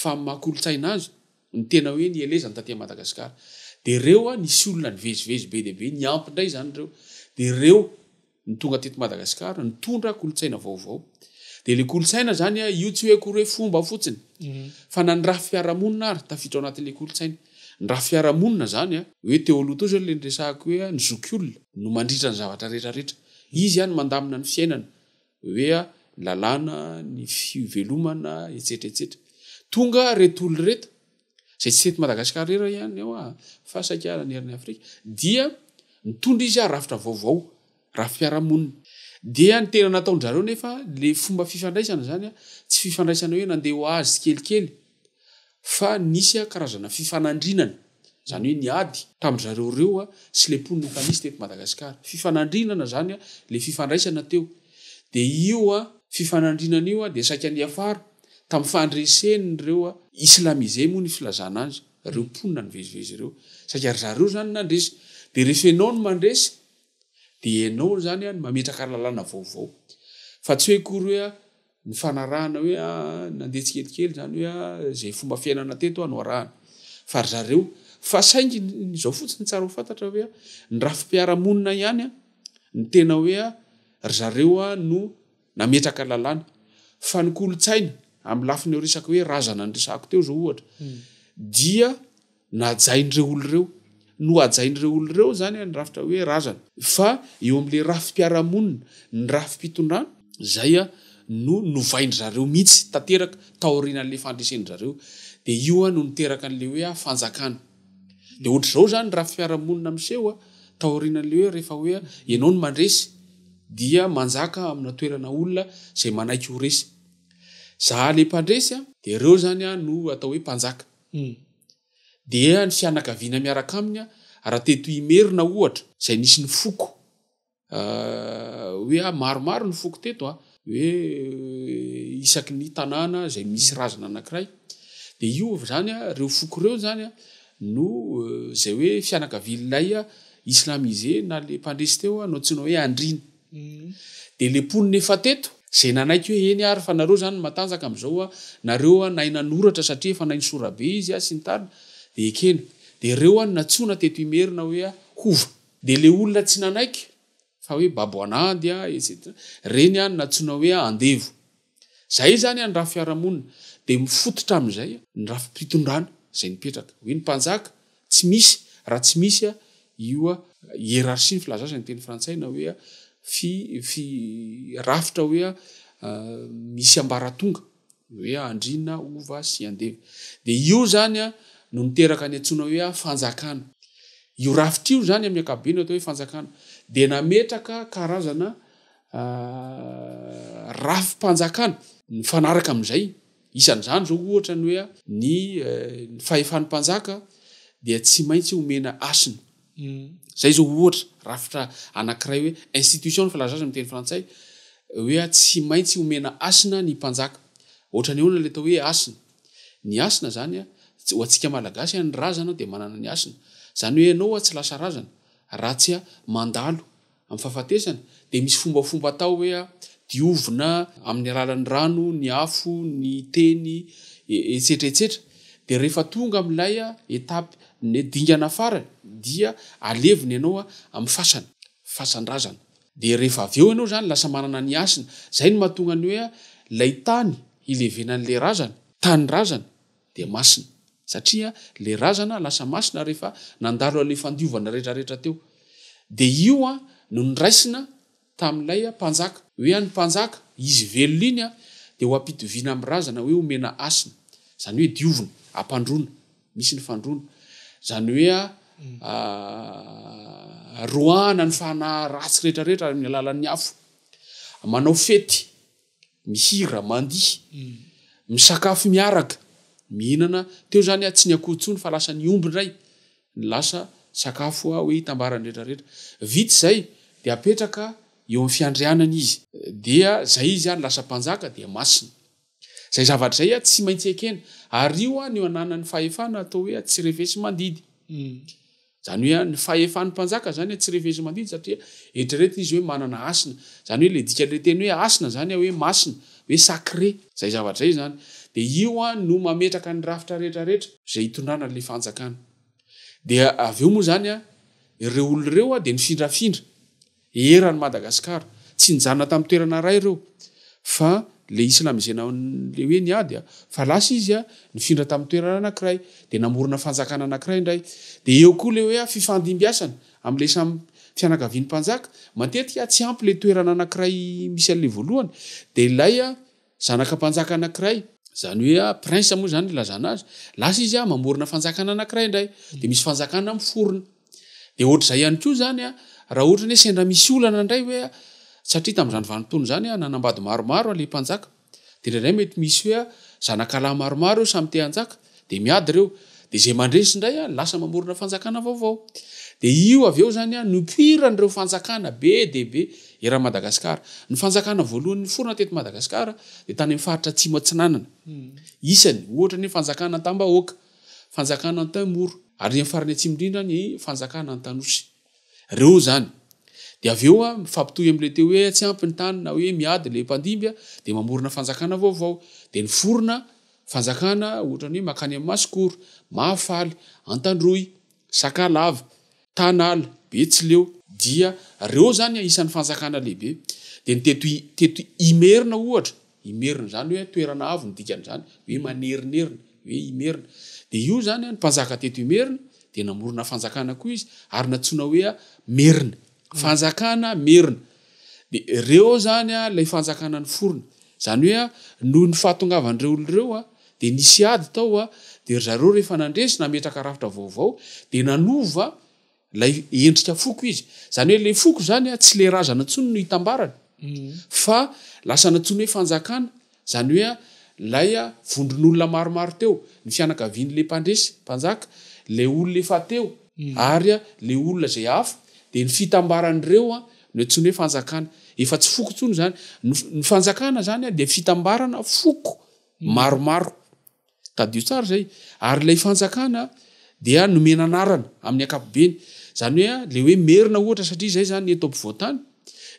[SPEAKER 4] fa amin'ny maha kolontsaina azy Ny tena hoe nielezany taty Madagascar dia ireo a nisy olona nivezivezy be dia be niampy indray izany ireo dia ireo no tonga teto Madagascar nitondra kolontsaina vaovao dia ilay kolontsaina izany a io tsy hoe akory hoe fomba fotsiny fa na ny raha fiarahamonina ary tafiditra ao anatin'ilay kolontsaina ny raha fiarahamonina izany a hoe teo aloha teo izao ilay niresahako hoe a ny zokiolona no mandritra ny zavatra rehetra rehetra izy a no mandamina ny fiainana hoe ny lalàna, ny fivelomana, etsetra etsetra. Tonga reto olona reto, izay tsy teto Madagasikara irery ihany eo an, fa saika nanerana i Afrika, dia nitondra izy rafitra vaovao, rafi-piarahamonina. Dia ny tena nataon-dry zareo anefa, ilay fomba fifandraisana izany an, tsy fifandraisana hoe nandeha ho azy tsikelikely, fa nisy karazana fifanandrinana, izany hoe ny ady, tamin-dry zareo ireo sy ilay mponina efa nisy teto Madagasikara. Fifanandrinana izany ilay fifandraisana teo. Dia io fifanandrinana io dia saika niafara tamin'ny fandresen'ireo, islamisé moa ny filazana azy, ireo mponina nivezivezy ireo. Saika ry zareo izany nandresy. Dia rehefa ianao no mandresy, dia ianao izany no mametraka lalàna vaovao. Fa tsy hoe akory hoe. Ny fanarahana hoe nandeha tsikelikely izany hoe izay fomba fiainana teto no arahana fa ry zareo fa saingy ny izao fotsiny tsara ho fantatra hoe ny rafi-piarahamonina ihany ny tena hoe ry zareo no nametraka lalàna fa ny kolontsaina amin'ny lafiny resaka hoe razana niresahako teo izao ohatra dia Nahajain'ireo olona ireo, nohajain'ireo olona ireo izany ny rafitra hoe razana. Fa eo amin'ilay rafi-piarahamonina, ny rafi-pitondrana, izay no novain-dry zareo mihitsy tanteraka taorian'ilay fandreseny-dry zareo. Dia io no niteraka an'ilay hoe fanjakana. Dia ohatr'izao izany ny rafi-piarahamonina miseho taorian'ilay hoe rehefa hoe ianao no mandresy dia manjaka amina toerana olona izay manaiky ho resy. Za ilay mpandresy dia ireo izany no atao hoe mpanjaka. Humm. Dia ny fianakaviana miaraka aminy raha teto Imerina ohatra izay nisy ny foko hoe maromaro ny foko teto a, hoe isaky ny tanàna izay misy razana anankiray dia io izany a, ireo foko ireo izany a no izay hoe fianakavian'ilay islamisé na ilay mpandresy teo no antsoina hoe andriana. Dia le mponina efa teto, zay nanaiky hoe eny ary fa nareo zany no matanjaka amzao a, nareo a nahay nanoratra satria efa naino sorabe izy a sy ny tariny, dia ekena. Dia reo a no natsoina teto Imerina hoe a hova. Dia le olona tsy nanaiky fa hoe babo an'ady a etc, reny a no natsoina hoe a andevo. Izay izany any raha fiarahamonina dia mifototra amin'izay ny rafi-pitondrana izay nipetraka. Hoe ny mpanjaka tsy misy raha tsy misy io hiérarchie ny filazana izay ny teny frantsay na hoe fi fi rafitra hoe misy ambaratonga hoe andriana, hova sy andeva. Dia io izany no niteraka ny antsoina hoe fanjakana. Io rafitra io izany amin'ny ankapobeny atao hoe fanjakana dia nametraka karazana rafi-panjakana mifanaraka amin'izay. Isan'izany izao ohatra ny hoe ny fahefan'ny mpanjaka dia tsy maintsy omena hasina. Izay izao ohatra rafitra anankiray hoe institution ny filazana azy amin'ny teny frantsay hoe tsy maintsy omena hasina ny mpanjaka. Ohatrany ahoana ilay atao hoe hasina? Ny hasina izany ho antsika Malagasy ny razana dia manana ny hasina. Izany hoe ianao tsy lasa razana raha tsy mandalo. Amin'ny fahafatesana, dia misy fombafomba atao hoe diovina amin'ny alalan'ny rano, ny afo, ny teny, etsetra etsetra Dia rehefa tonga amin'ilay étape, ny dingana farany, dia alevina ianao amin'ny fasana, fasan-drazana. Dia rehefa avy eo ianao izany lasa manana ny hasina. Izay no mahatonga ny hoe ilay tany hilevenan'ilay razana, tany razana, dia masina, satria le razana lasa masina rehefa nandalo anle fandiovana rehetra rehetra teo, dia io an no niraisina tamin'ilay an mpanjaka, hoe an ny mpanjaka, izy velona iny an dia ho ampitoviana amin'ny razana hoe omena hasina, izany hoe diovina, ampandroana, misy ny fandroana, izany hoe an roahana ny fanahy ratsy rehetra rehetra amin'ny alalan'ny afo, manao fety. mihira, mandihy, misakafo miaraka, mihinana, teo izany aho tsy ny akoho intsony fa lasa ny omby indray no lasa sakafo hoe hitambaran'ny rehetra rehetra. Vita izay dia apetraka eo amin'ny fiandrianana izy dia izay izy ary lasa mpanjaka dia masina. Izay zavatra izay aho tsy maintsy ekena ary io aho no ananan'ny fahefana atao hoe atsirefesimandidy. Zany hoe ny fahefan'ny mpanjaka zany tsy rehefa izy mandidy satria eritreretina izy hoe manana hasina. Zany hoe le dikan'le teny hoe hasina zany hoe masina, hoe sacré. Zay zavatra zay zany. De io no mametraka ny rafitra rehetra rehetra zay itondrana an'le fanjakana. De avy eo moa zany ireo olona ireo de mifindrafindra Eran'i Madagascar. Tsy nijanona tamin'ny toerana iray ireo fa ilay islamisena ilay hoe ny ady fa lasa izy nifindra tamin'ny toerana anankiray dia namorona fanjakana anankiray indray dia eo koa ilay hoe fifandimbiasana amin'ilay samy fianakavian'ny mpanjaka matetika tsy ampy ilay toerana anankiray misy an'ilay voalohany dia ilay Zanaka mpanjaka anankiray, izany hoe prince moa izany ilazana azy, lasa izy mamorona fanjakana anankiray indray, dia misy fanjakana miforona. Dia ohatr'izay ihany koa izany raha ohatra ny hoe sendra misy olana indray hoe satria tamin'izany vanim-potoana izany nanambady maromaro ilay mpanjaka, dia indraindray mety misy hoe zanakalahy maromaro samy te hanjaka, dia miady ireo dia izay mandresy indray a lasa mamorona fanjakana vaovao dia io avy eo zany a nopoiran'ireo fanjakana be dia be eran'i Madagasikara ny fanjakana voalohany niforona teto Madagasikara dia tany amin'ny faritra atsimo atsinanana hmm. isany ohatra ny fanjakana Antambahoaka fanjakana Antaimoro ary ny farany atsimo indrindra ny fanjakana Antanosy Reo zany. De avy eo a, mifampitohy am le teo hoe tsy ampy ny tany na hoe miady le mpandimby a, de mamorona fanjakana vaovao. De ny forona fanjakana ohatrany hoe makany am Masikoro, Mahafaly, Antandroy, Sakalava, Tanala, Betsileo. Dia reo zany a isan ny fanjakana lehibe. De ny teto teto Imerina ohatra, Imerina, izany hoe toerana avo no dikan'izany hoe manerinerina, hoe Imerina. Dia io izany, ny mpanjaka teto Imerina, dia namorona fanjakana koa izy, ary nantsoina hoe Merina. Fanjakana merina. Dia ireo izany ilay fanjakana niforona. Izany hoe noho ny fahatongavan'ireo olona ireo dia nisy ady tao, dia ry zareo rehefa nandresy nametraka rafitra vaovao dia nanova, Ilay endrika foko izy. Izany hoe ilay foko izany an, tsy ilay razana intsony no itambarany, fa lasa nantsoina hoe fanjakana. Izany hoe an, ilay vondron'olona maromaro teo, ny fianakavian'ilay mpandresy, mpanjaka, ilay olona efa teo, ary an, ilay olona izay hafa, dia ny fitambaran'ireo an, no antsoina hoe fanjakana. Efa tsy foko intsony izany. Ny fanjakana izany an, dia fitambarana foko maromaro. Tadidio tsara izay. Ary ilay fanjakana dia nomena anarana amin'ny ankapobeny. Izany hoe ilay hoe merina ohatra satria izay izany eto ampovoan-tany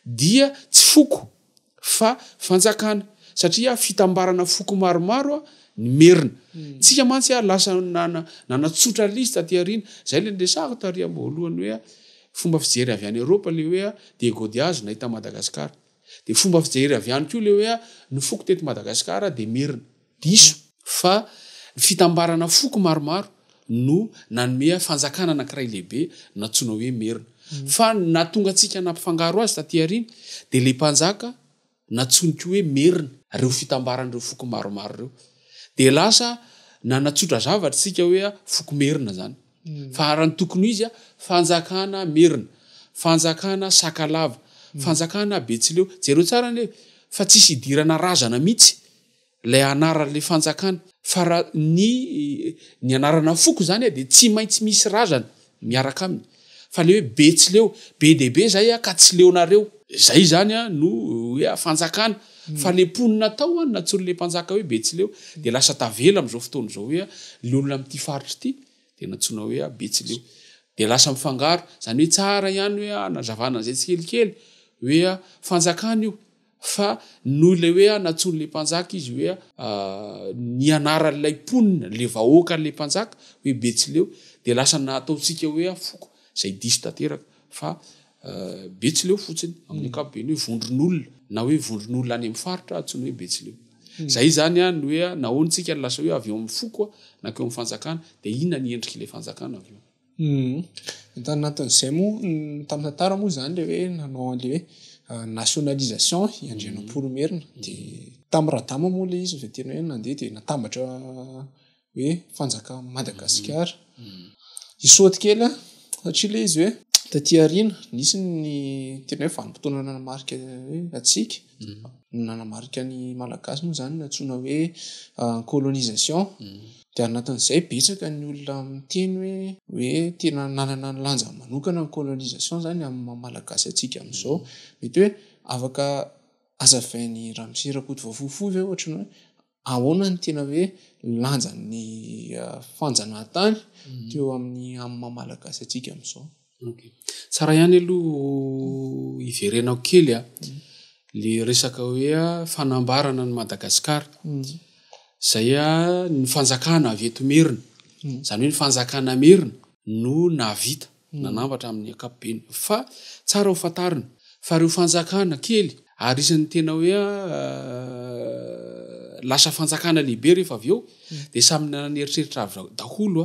[SPEAKER 4] dia tsy foko fa fanjakana satria fitambarana foko maromaro ny merina. Hmm. Tsika mantsy lasa nanatsotra lys taty aoriana. Izay ilay niresahako tary am-boalohany hoe fomba fijery avy any Eropa ilay hoe dia godiazy nahita Madagasikara. Dia fomba fijery avy any koa ilay hoe ny foko teto Madagasikara dia merina. Diso fa ny fitambarana foko maromaro no nanome fanjakana anankiray lehibe nantsoina hoe Merina. Fa ny nahatonga antsika nampifangaro azy taty aoriana dia ilay mpanjaka nantsoiny koa hoe Merina ireo fitambaran'ireo foko maromaro ireo. Dia lasa nanatsotra zavatra isika hoe foko Merina izany. Fa raha ny tokony ho izy, fanjakana Merina, fanjakana Sakalava, fanjakana Betsileo. Jereo tsara anie fa tsisy idirana razana mihitsy. Ilay anaran'ilay fanjakana. Fa raha ny ny anarana foko izany a dia tsy maintsy misy razana miaraka aminy. Fa ilay hoe Betsileo, be dia be izay aho ka tsy leonareo. Izay izany a no hoe a fanjakana. Fa ilay mponina tao a nantsoin'ilay mpanjaka hoe Betsileo dia lasa tavela amin'izao fotoana izao hoe a ny olona amin'ity faritra ity dia nantsoina hoe a Betsileo. Dia lasa mifangaro. Izany hoe tsara ihany hoe a hanazavana an'izay tsikelikely hoe a fanjakana io. Fa noho ilay hoe anatsoin'ilay mpanjaka izy hoe ny anaran'ilay mponina, ilay vahoakan'ilay mpanjaka hoe Betsileo dia lasa nataontsika hoe foko, izay diso tanteraka fa Betsileo fotsiny amin'ny ankapobeny hoe vondron'olona na hoe vondron'olona any amin'ny faritra antsoina hoe Betsileo. Izay izany no hoe nahoana isika no lasa hoe avy eo amin'ny foko nankeo amin'ny fanjakana dia inona ny endrik'ilay fanjakana avy eo. Tanatin'izay
[SPEAKER 2] moa tamin'ny tantara moa izany ilay hoe nanao an'ilay hoe nationalisation i Andrianampoinimerina dia tamin'i Radama moa ilay izy vao tena hoe nandeha dia natambatra hoe fanjakan'i Madagasikara. I Soatikely satria ilay izy hoe taty aoriana nisy ny tena hoe vanim-potoana nanamarika hoe antsika nanamarika ny Malagasy moa izany no antsoina hoe colonisation. Dia anatin'izay betsaka ny olona miteny hoe hoe tena nanana ny lanjany manokana ny colonisation izany amin'ny maha malagasy antsika amin'izao. Mety hoe afaka hazavain'i ramose rakotovavofo fohy ve ohatry ny hoe ahoana ny tena hoe lanjan'ny fanjanahantany teo amin'ny amin'ny maha malagasy antsika amin'izao. Tsara
[SPEAKER 4] ihany aloha hiverenao kely le resaka hoe fanambarana an'i Madagasikara zay ny fanjakana avy eto merina zany hoe ny fanjakana merina no nahavita nanambatra amin'ny ankapobeny fa tsara ho fantarina fa reo fanjakana kely ary isan'ny tena hoe lasa fanjakana lehibe rehefa avy eo de samy nanana ny eritreritra avy daholo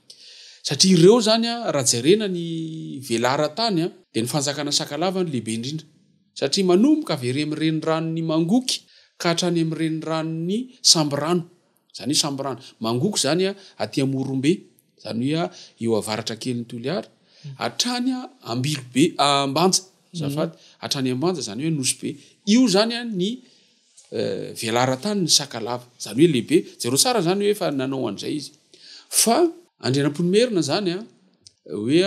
[SPEAKER 4] Satria ireo izany raha jerena ny velaran-tany dia ny fanjakana Sakalava no lehibe indrindra. Satria manomboka avy ery amin'ny reniranon'i Mangoky ka hatrany amin'ny reniranon'i Sambirano. Izany hoe Sambirano, Mangoky izany aty Amorombe, izany hoe eo avaratra kelin'i Toliara, hatrany Ambilobe, Ambanja, azafady, hatrany Ambanja, izany hoe Anosibe. Io izany ny. velaran-tany ny Sakalava. Izany hoe lehibe. Jereo tsara izany hoe efa nanao an'izay izy. Fa Andrianampoinimerina izany hoe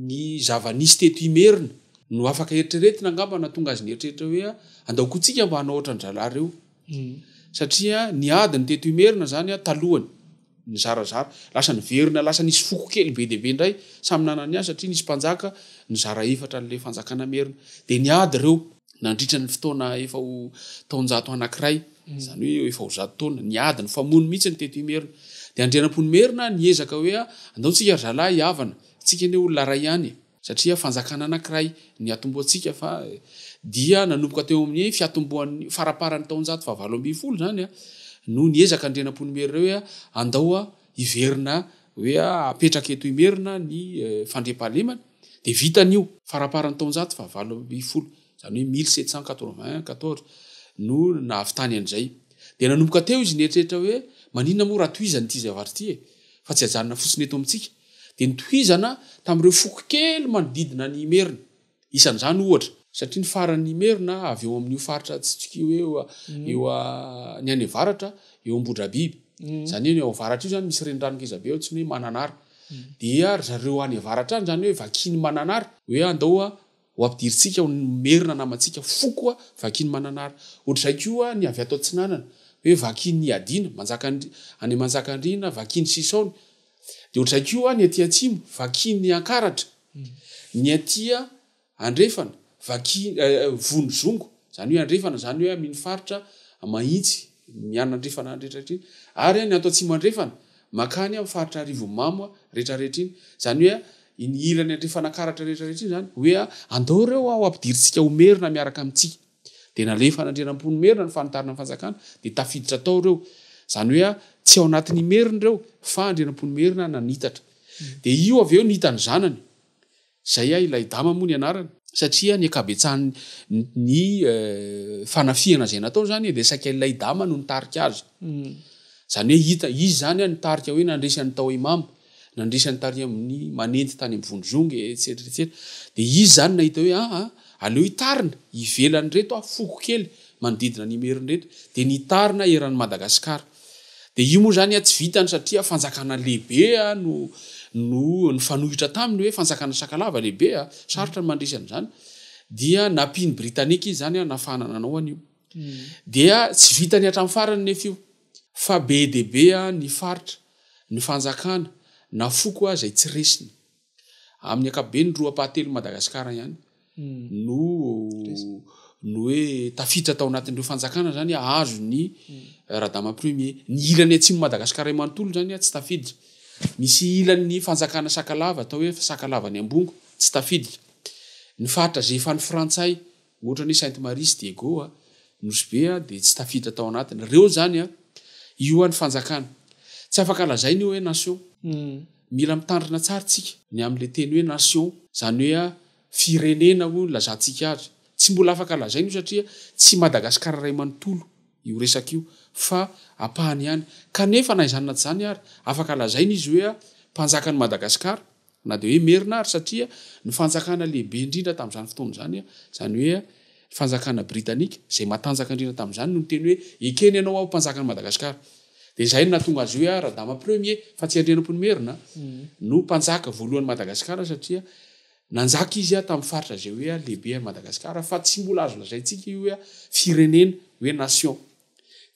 [SPEAKER 4] ny zava-nisy teto Imerina no afaka eritreretina angamba nahatonga azy nieritreritra hoe andaokontsika mba hanao ohatran-dRalahy ireo. Satria ny ady ny teto Imerina zany a talohany nizarazara lasa niverina lasa nisy foko kely be dia be indray samy nanana ny azy satria nisy mpanjaka nizara efatra an'ilay fanjakana merina dia niady ireo nandritra ny fotoana efa ho taonjato anankiray izany hoe eo efa ho zato taona niady nifamono mihitsy ny teto Imerina dia Andrianampoinimerina niezaka hoe andao tsika ry zalahy hihavana tsika anie olona iray ihany e satria fanjakana anankiray ny atombohantsika fa dia nanomboka teo amin'ny fiatombohan'ny faraparan'ny taonjato fahavalo ambin'ny folo izany no niezaka ny renampon'Imerina hoe andao hiverina hoe apetraka eto Imerina ny fandriampahalemana dia vitan'io faraparan'ny taonjato fahavalo ambin'ny folo izany hoe mille sept cent quatre-vingt quatorze no nahavitany an'izay dia nanomboka teo izy nieritreritra hoe maninona moa raha tohizan'ity zavatra ity e fa tsy ajanona fotsiny eto amintsika dia notohizana tamin'ireo foko kely manodidina an'i Imerina. Isan'izany, ohatra. Satria ny faran'i Imerina avy eo amin'io faritra atsitoka io eo, eo a, ny any avaratra, eo Ambohidrabiby. Izany hoe ny ao avaratra io izany misy renirano ngezabe ao antsoina hoe Mananara. Dia ry zareo any avaratra any izany hoe vakin'i Mananara, hoe andao a, Ho ampidirintsika ho merina namantsika fo koa vakin'i Mananara. Ohatr'izay koa ny avy ato Atsinanana, hoe vakin'i Iadiana, Manjakandri-, any Manjakandriana, vakin'i Sisaony. Dia ohatr'izay koa ny aty Atsimo, vakin'i Ankaratra. Ny aty Andrefana, vaki-, Vonizongo, izany hoe Andrefana, izany hoe amin'iny faritra Mahitsy, Mianandrefana any rehetra iny. Ary ny ato Atsimo Andrefana. Mankany amin'ny faritra Arivonimamo a, rehetra rehetra iny. Izany hoe a, iny ilany Andrefanankaratra rehetra rehetra iny izany. Hoe a, andao ireo a, ho ampidirintsika ho merina miaraka amintsika. Dia nalefan'Andrianampoinimerina ny fanitarana ny fanjakana, dia tafiditra tao ireo. Izany hoe a, tsy ao anatin'Imerina ireo, fa Andrianampoinimerina nanitatra. Dia io avy eo no hitan'ny zanany. Izay ahy ilay dama moa ny anarany. Satria ny ankabetsahan ny fanafihana izay nataony izany dia saika ilay dama no nitarika azy. Izany hoe hita izy izany an nitarika hoe nandresy an'i Tao Imam, nandresy an'i Tariq amin'ny manendy tany amin'ny vondrozongy etsetra etsetra. Dia izy izany nahita hoe aa aleo hitarina ivelan'ireto aho foko kely manodidina an'Imerina ireto. Dia nitarina eran'i Madagasikara. Dia io moa izany tsy vitany satria fanjakana lehibe no no nifanohitra taminy hoe fanjakana Sakalava lehibe, sarotra ny mandresy an'izany, dia nampian'ny Britanika izy izany nahafahana nanao an'io. Dia tsy vitany hatramin'ny farany anefa io fa be dia be ny faritra, ny fanjakana na foko aza izay tsy resiny. Amin'ny ankapobeny, roa ampahatelon'i Madagasikara ihany no no hoe tafiditra tao anatin'ireo fanjakana zany ahazo ny eh, radama premier ny ilany atsimo madagasikara manontolo zany a tsy tafiditra misy ilan'ny fanjakana sakalava atao hoe sakalava ny ambongo tsy tafiditra ny faritra zefan'ny frantsay Ohatra ny Sainte Marie sy Diego a, Nosy Be a, dia tsy tafiditra tao anatiny. Reo izany a. Io a ny fanjakana. Tsy afaka lazaina io hoe nation. Mila mitandrina tsara tsika ny amin'ilay teny hoe nation. Izany hoe a, firenena hoy ny lazantsika azy. Tsy mbola afaka lazaina io satria tsy Madagascar iray manontolo io resaka io fa ampahany ihany. Kanefa na izany na tsy izany ary, afaka lazaina izy hoe a, mpanjakan'i Madagascar. Na dia hoe merina ary satria ny fanjakana lehibe indrindra tamin'izany fotoana izany, izany hoe fanjakana britanika, izay matanjaka indrindra tamin'izany no niteny hoe ekeny ianao aho mpanjakan'i Madagasikara. Dia izay no nahatonga azy hoe ahy Radama Premier, fa tsy Andrianampoinimerina, no mpanjaka voalohan'i Madagasikara satria nanjaka izy ahy tamin'ny faritra izay hoe ahy lehibe an'i Madagasikara, fa tsy mbola azo lazaintsika io hoe firenena, hoe nation.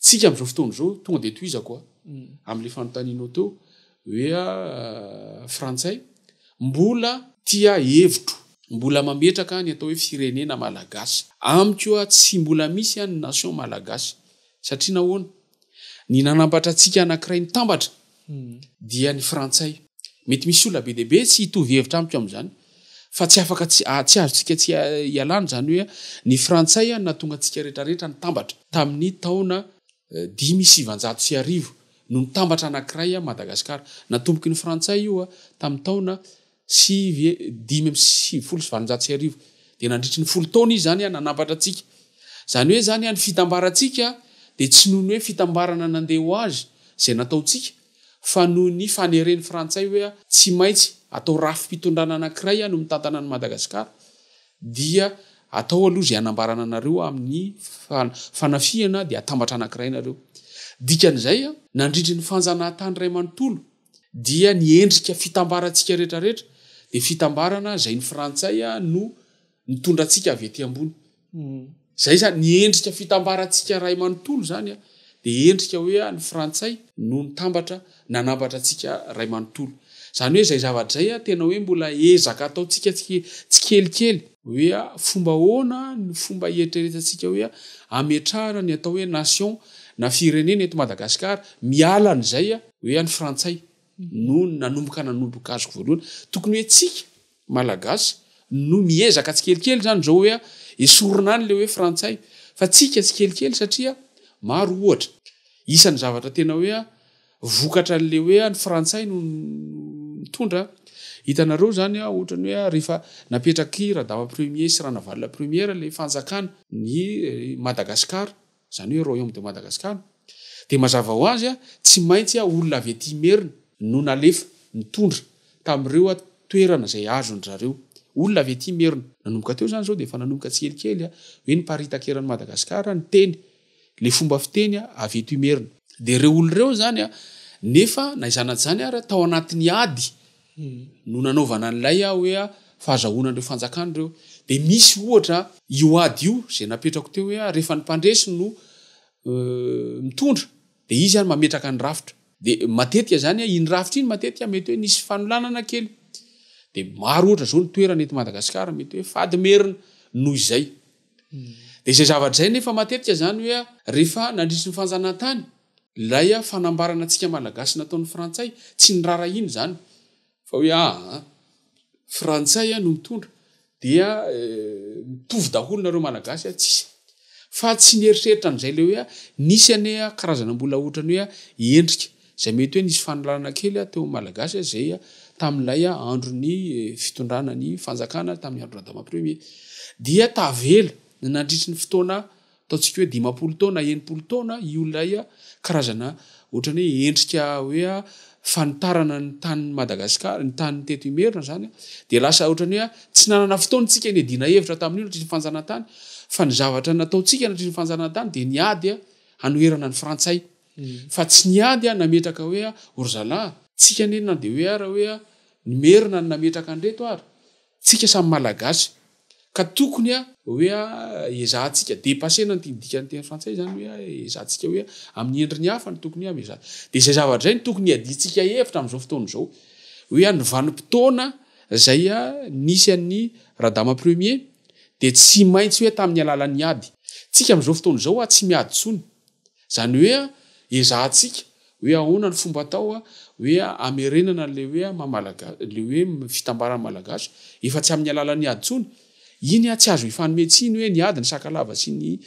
[SPEAKER 4] Tsika amin'izao fotoana izao, tonga dia tohizako a, amin'ilay fanontanianao teo hoe frantsay, mbola tia hevitro, mbola mametraka ny atao hoe firenena malagasy. Amiko a, tsy mbola misy a ny nation malagasy. Satria nahoana? Ny nanampatra antsika anankiray nitambatra dia ny frantsay. Mety misy olona be dia be tsy hitovy hevitra amiko amin'izany fa tsy afaka tsy tsy azontsika tsy ialana izany hoe ny frantsay no nahatonga antsika rehetra rehetra nitambatra tamin'ny taona dimy sy sivanjato sy arivo no nitambatra anankiray Madagasikara. Natomboky ny frantsay io tamin'ny taona sy ve dimy amby sivifolo sy valonjato sy arivo dia nandritry ny folo taona izy izany an nanampatra antsika izany hoe izany an ny fitambarantsika dia tsy noho ny hoe fitambarana nandeha ho azy izay nataontsika fa noho ny faneren'ny frantsay hoe an tsy maintsy atao rafi-pitondrana anankiray an no mitantana an'i Madagasikara dia atao aloha izay hanambarana anareo amin'ny fanafihana dia atambatra anankiray nareo dikan'izay an nandritry ny fanjanahatany iray manontolo dia ny endrika fitambarantsika rehetrarehetra dia fitambarana izay ny frantsay no nitondra antsika avy ety ambony izay izany ny endrika fitambarantsika ray manontolo izany dia endrika hoe ah ny frantsay no nitambatra nanambatra antsika ray manontolo izany hoe izay zava-dray ah tena hoe mbola ezaka ataontsika tsikelikely hoe ah fomba ahoana ny fomba hietreretantsika hoe ah ametrahana ny atao hoe nation na firenena eto madagasikara mialan'izay ah hoe any frantsay no nanomboka nanomboka azoko voalohany tokony hoe tsika malagasy no miezaka tsikelikely zany zao hoe esorina any le hoe frantsay fa tsika tsikelikely satria maro ohatra isan'ny zavatra tena hoe a vokatra an'le hoe any frantsay no mitondra hitanareo zany a ohatrany hoe rehefa napetraky radama premier sy ranavalona premiera le fanjakana ny eh, madagasikara izany hoe Royaume de Madagascar, dia mazava ho azy tsy maintsy olona avy aty Imerina no nalefa nitondra tamin'ireo toerana izay azon-dry zareo. Olona avy aty Imerina. Nanomboka teo izany izao dia efa nanomboka tsikelikely hoe niparitaka eran'i Madagascar ny teny, ilay fomba fiteny avy eto Imerina. Dia ireo olona ireo izany nefa na izany na izany ary tao anatin'ny ady no nanaovana an'ilay hoe fahazahoana an'ireo fanjakana ireo. Dia misy ohatra io ady io izay napetrako teo hoe rehefa ny mpandresy no mitondra dia izy ary mametraka ny rafitra. Dia matetika izany iny rafitra iny matetika mety hoe nisy fanolanana kely. Dia maro ohatra izao ny toerana eto Madagasikara mety hoe fady merina noho izay. Dia izay zavatra izay nefa matetika izany hoe rehefa nandritry ny fanjanahantany, Ilay fanambarana antsika malagasy nataon'ny frantsay tsy nirarahiana izany fa hoe aa frantsay no mitondra dia mitovy daholo nareo malagasy a tsisy fa tsy nieritreritra an'izay le hoe a nisy ane a karazana mbola ohatrany hoe a endrika zay mety hoe nisy fanilarana kely a teo am malagasy a zay a tamin'ilay a andro ny fitondrana ny fanjakana tamin'ny andro radama premier dia tavela ny nandritry ny fotoana Ataontsika hoe dimampolo taona, enimpolo taona io ilay karazana ohatran'ny hoe endrika hoe fanitarana ny tanin'i Madagasikara, ny tany teto Imerina izany, dia lasa ohatran'ny hoe tsy nanana fotoana isika niadiana hevitra tamin'io nandritry ny fanjanahantany fa ny zavatra nataontsika nandritry ny fanjanahantany dia ny ady hanoherana ny frantsay fa tsy ny ady nametraka hoe ry zalahy, tsika anie na dia hoe ary hoe ny Merina no nametraka an'ireto ary Tsika samy malagasy ka tokony a hoe a ezahantsika depasena an'ity dikan'ny teny frantsay izany hoe a ezahantsika hoe amin'ny endriny hafa no tokony hoe amezana dia izay zavatra izay no tokony hiadiantsika hevitra amin'izao fotoana izao hoe a ny vanim-potoana izay a nisy an'ny radama premier dia tsy maintsy hoe tamin'ny alalan'ny ady tsika amin'izao fotoana izao a tsy miady intsony Izany hoe ezahantsika hoe ahoana ny fomba atao hoe hamerenana an'ilay hoe maha malagasy, ilay hoe fitambaran'ny malagasy efa tsy amin'ny alalan'ny ady intsony. Iny tsy azo ifanome tsiny hoe ny ady, ny sakalava sy ny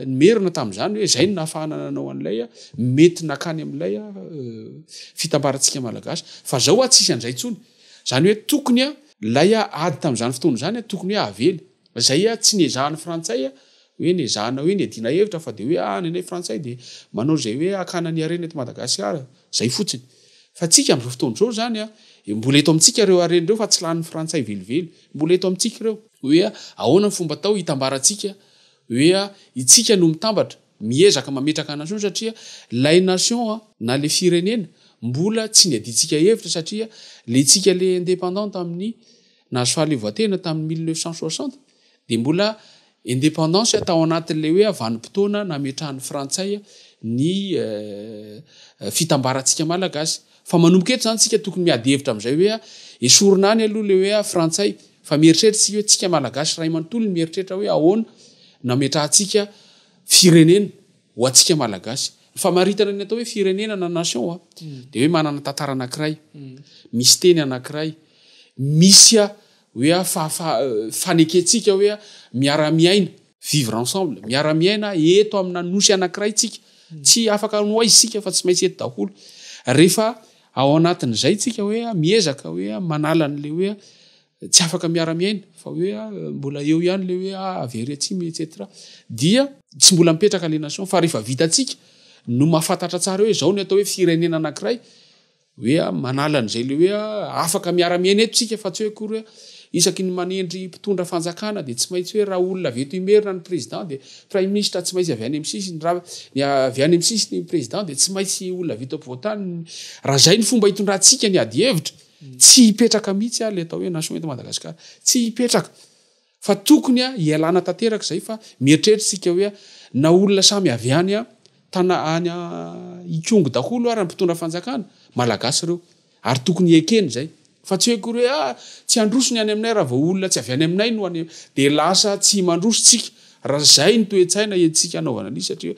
[SPEAKER 4] ny merina tamin'izany hoe izay no nahafahana nanao an'ilay mety nakany amin'ilay fitambarantsika malagasy. Fa izao tsisy an'izay intsony. Izany hoe tokony ilay ady tamin'izany fotoana izany tokony hoe avela. Izay tsy niezahan'ny frantsay hoe ny ezahana hoe ny iadiana hevitra fa dia hoe ah nenay frantsay dia manao izay hoe hakana ny harena eto Madagasikara, izay fotsiny. Fa antsika amin'izao fotoana izao izany an, mbola eto amintsika ireo harena ireo fa tsy lanin'ny frantsay velively, mbola eto amintsika ireo. Hoe ahoana ny fomba atao hitambarantsika hoe itsika no mitambatra, miezaka mametraka nation satria ilay nation an, na ilay firenena mbola tsy niadiantsika hevitra satria ilay tsika ilay independante amin'ny nahazo fahaleovantena tamin'ny mille neuf cent soixante, Dia mbola indépendance tao anatin'ilay hoe vanim-potoana nametrahan'ny frantsay ny fitambarantsika malagasy. Fa manomboka eto izany tsika tokony miady hevitra amin'izay hoe esorina any aloha ilay hoe frantsay fa mieritreritra isika hoe tsika malagasy ray manontolo ny mieritreritra hoe ahoana nametrahantsika firenena ho antsika malagasy. Ny famaritana ny atao hoe firenena na nation a hmm. dia hoe manana tantara anankiray hmm. misy teny anankiray misy Hoe a, fa, fa, fanekentsika hoe a, miara-miaina, vivre ensemble, miara-miaina eto amina nosy anankiray isika. Tsy afaka any ho aiza isika fa tsy maintsy eto daholo. Rehefa ao anatin'izay isika hoe a, miezaka hoe a, manala an'ilay hoe a, tsy afaka miara-miaina, fa hoe a, mbola eo ihany ilay hoe a, avy ery atsimo etc. Dia tsy mbola mipetraka ilay nation, fa rehefa vitantsika no mahafantatra tsara hoe izao ny atao hoe firenena anankiray, Hoe manala an'izay ilay hoe afaka miara-miaina eto isika fa tsy hoe akory hoe isaky ny manendry mpitondra fanjakana dia tsy maintsy hoe raha olona avy eto Imerina ny président dia praiminisitra tsy maintsy avy any amin'ny sisiny, raha ny avy any amin'ny sisiny ny président dia tsy maintsy olona avy eto ampovoan-tany, raha izay ny fomba hitondrantsika ny adi-hevitra, tsy hipetraka mihitsy ilay atao hoe nation eto Madagasikara, tsy hipetraka. Fa tokony hialana tanteraka izay fa mieritreritra isika hoe na olona samy avy any tana any ikongo daholo ara ny mpitondra fanjakana, malagasy ireo, ary tokony ekena izay, fa tsy hoe akory hoe ah tsy handroso ny any aminay raha vao olona tsy avy any aminay no any dia lasa tsy mandroso tsika raha izay ny toe-tsaina entintsika hanaovana an'izy satria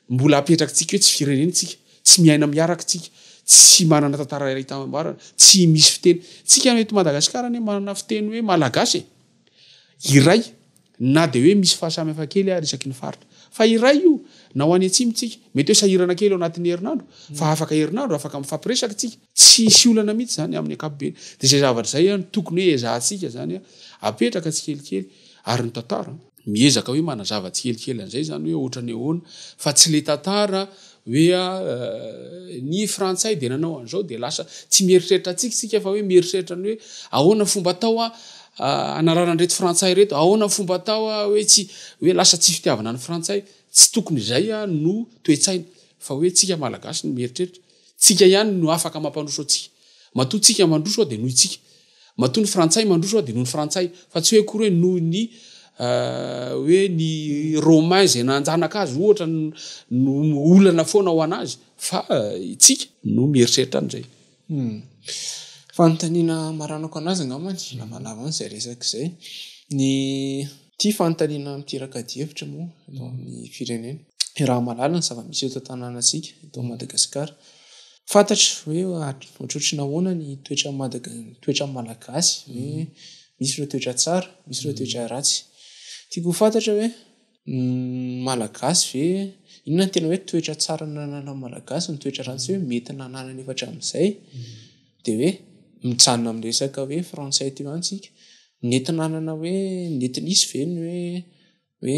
[SPEAKER 4] mbola apetrakitsika hoe tsy firenena isika, tsy miaina miaraka isika, tsy manana tantara iray itambarana, tsy misy fiteny, tsika eto madagasikara anie manana fiteny hoe malagasy e! iray na dia hoe misy fahasamihafana kely ary isaky ny faritra fa iray io na ho any atsimo tsika mety hoe sahirana kely ao anatin'ny herinandro fa afaka herinandro afaka mifampiresaka tsika tsy sy olana mihitsy zany amin'ny ankapobeny dia izay zavatra izay any tokony hoe ezahantsika zany apetraka tsikelikely ary ny tantara miezaka hoe manazava tsikelikely an'izay izany hoe ohatra ny ahoana fa tsy le tantara hoe ny frantsay dia nanao an'izao dia lasa tsy mieritreritra antsika isika fa hoe mieritreritra ny hoe ahoana fomba atao a hanarana an'ireto frantsay ireto ahoana fomba atao a hoe tsy hoe lasa tsy fitiavana ny frantsay tsy tokony izay a no toe-tsaina fa hoe tsika malagasy no mieritreritra tsika ihany no afaka mampandroso antsika matoa tsika mandroso aho dia noho itsika Matoa ny frantsay mandroso aho dia noho ny frantsay fa tsy hoe akory hoe noho ny hoe ny romain izay nanjanaka azy ohatra no olana foana ho an'azy fa itsika no mieritreritra an'izay hmm. fanontaniana
[SPEAKER 2] maranako an'azy angambany lamalava an'izay resaka izay ny Ity fanontaniana miteraka adihevitra moa eto amin'ny firenena. Iaraha mahalala ny zava-misy eto an-tanànantsika, eto Madagasikara. Fantatra hoe ohatrohatry ny ahoana ny toetran'ny Madaga- ny toetran'ny Malagasy, hoe misy ireo toetra tsara, misy ireo toetra ratsy. Tiako ho fantatra hoe ny Malagasy ve, inona no tena hoe toetra tsara nananan'ny Malagasy, ny toetra ratsy hoe mety nananany efa hatramin'izay. dia hoe mijanona amin'ny resaka hoe frantsay teo ihany tsika nentina hanana hoe nety nisy ve ny hoe hoe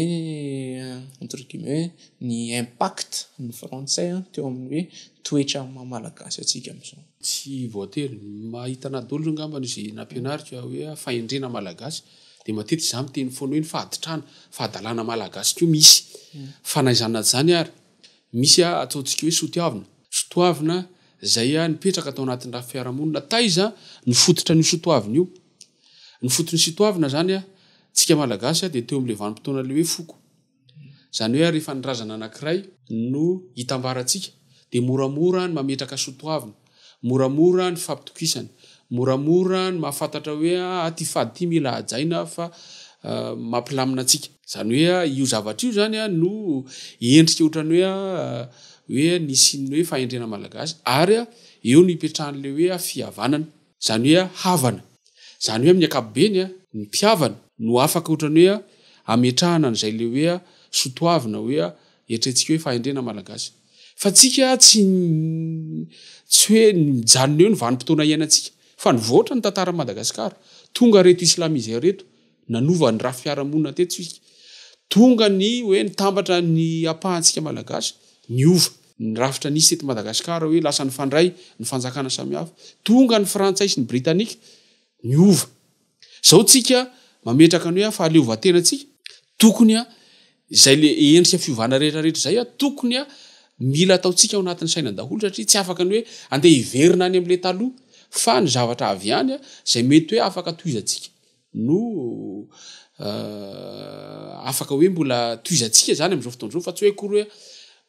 [SPEAKER 2] entre guillemets ny impact ny frantsay teo amin'ny hoe toetra amin'ny maha malagasy antsika amin'izao. Tsy voatery,
[SPEAKER 4] mahita anah daholo angamba izay nampianariko hoe fahendrena malagasy dia matetika izaho miteny foana hoe ny fahaditrana, fahadalana malagasy koa misy fa na izany na izany ary Misy a ataontsika hoe sotiavina. Sotoavina izay a nipetraka tao anatin'ny rafy fiarahamonina. Taiza no fototra an'io sotoavina io? Ny foton'ny sotoavina izany a, tsika malagasy a dia teo amin'ilay vanim-potoana ilay hoe foko. Izany hoe a rehefa ny razana anankiray no hitambarantsika dia moramora ny mametraka sotoavina. Moramora ny fampitokisana. Moramora ny mahafantatra hoe ah ity fady ity mila hajaina fa mampilamina antsika. Izany hoe io zavatra io izany no endrika ohatran'ny hoe hoe nisy ny hoe fahendrena malagasy ary eo no ipetrahan'ilay hoe fihavanana. Izany hoe havana. Izany hoe amin'ny ankapobeny ny mpihavana no afaka ohatran'ny hoe hametrahana an'izay ilay hoe sotoavina hoe eritreretintsika hoe fahendrena malagasy. Fa antsika tsy tsy hoe mijanona eo ny vanim-potoana iainantsika fa nivoatra ny tantaran'i Madagasikara. Tonga ireto islamiseurs ireto nanova ny rafy fiarahamonina teto isika. Tonga ny hoe nitambatra ny ampahantsika malagasy niova ny rafitra nisy teto Madagasikara hoe lasa nifandray ny fanjakana samihafa. Tonga ny frantsay sy ny britanika niova. Zao tsika mametraka ny hoe fahaleovantena tsika tokony a izay le endrika fiovana rehetra rehetra izay a tokony a mila ataontsika ao anatin'ny saina daholo satria tsy afaka ny hoe andeha hiverina any amle taloha fa ny zavatra avy any a izay mety hoe afaka tohizantsika no afaka hoe mbola tohizantsika zany am'izao fotoana izao fa tsy hoe akory hoe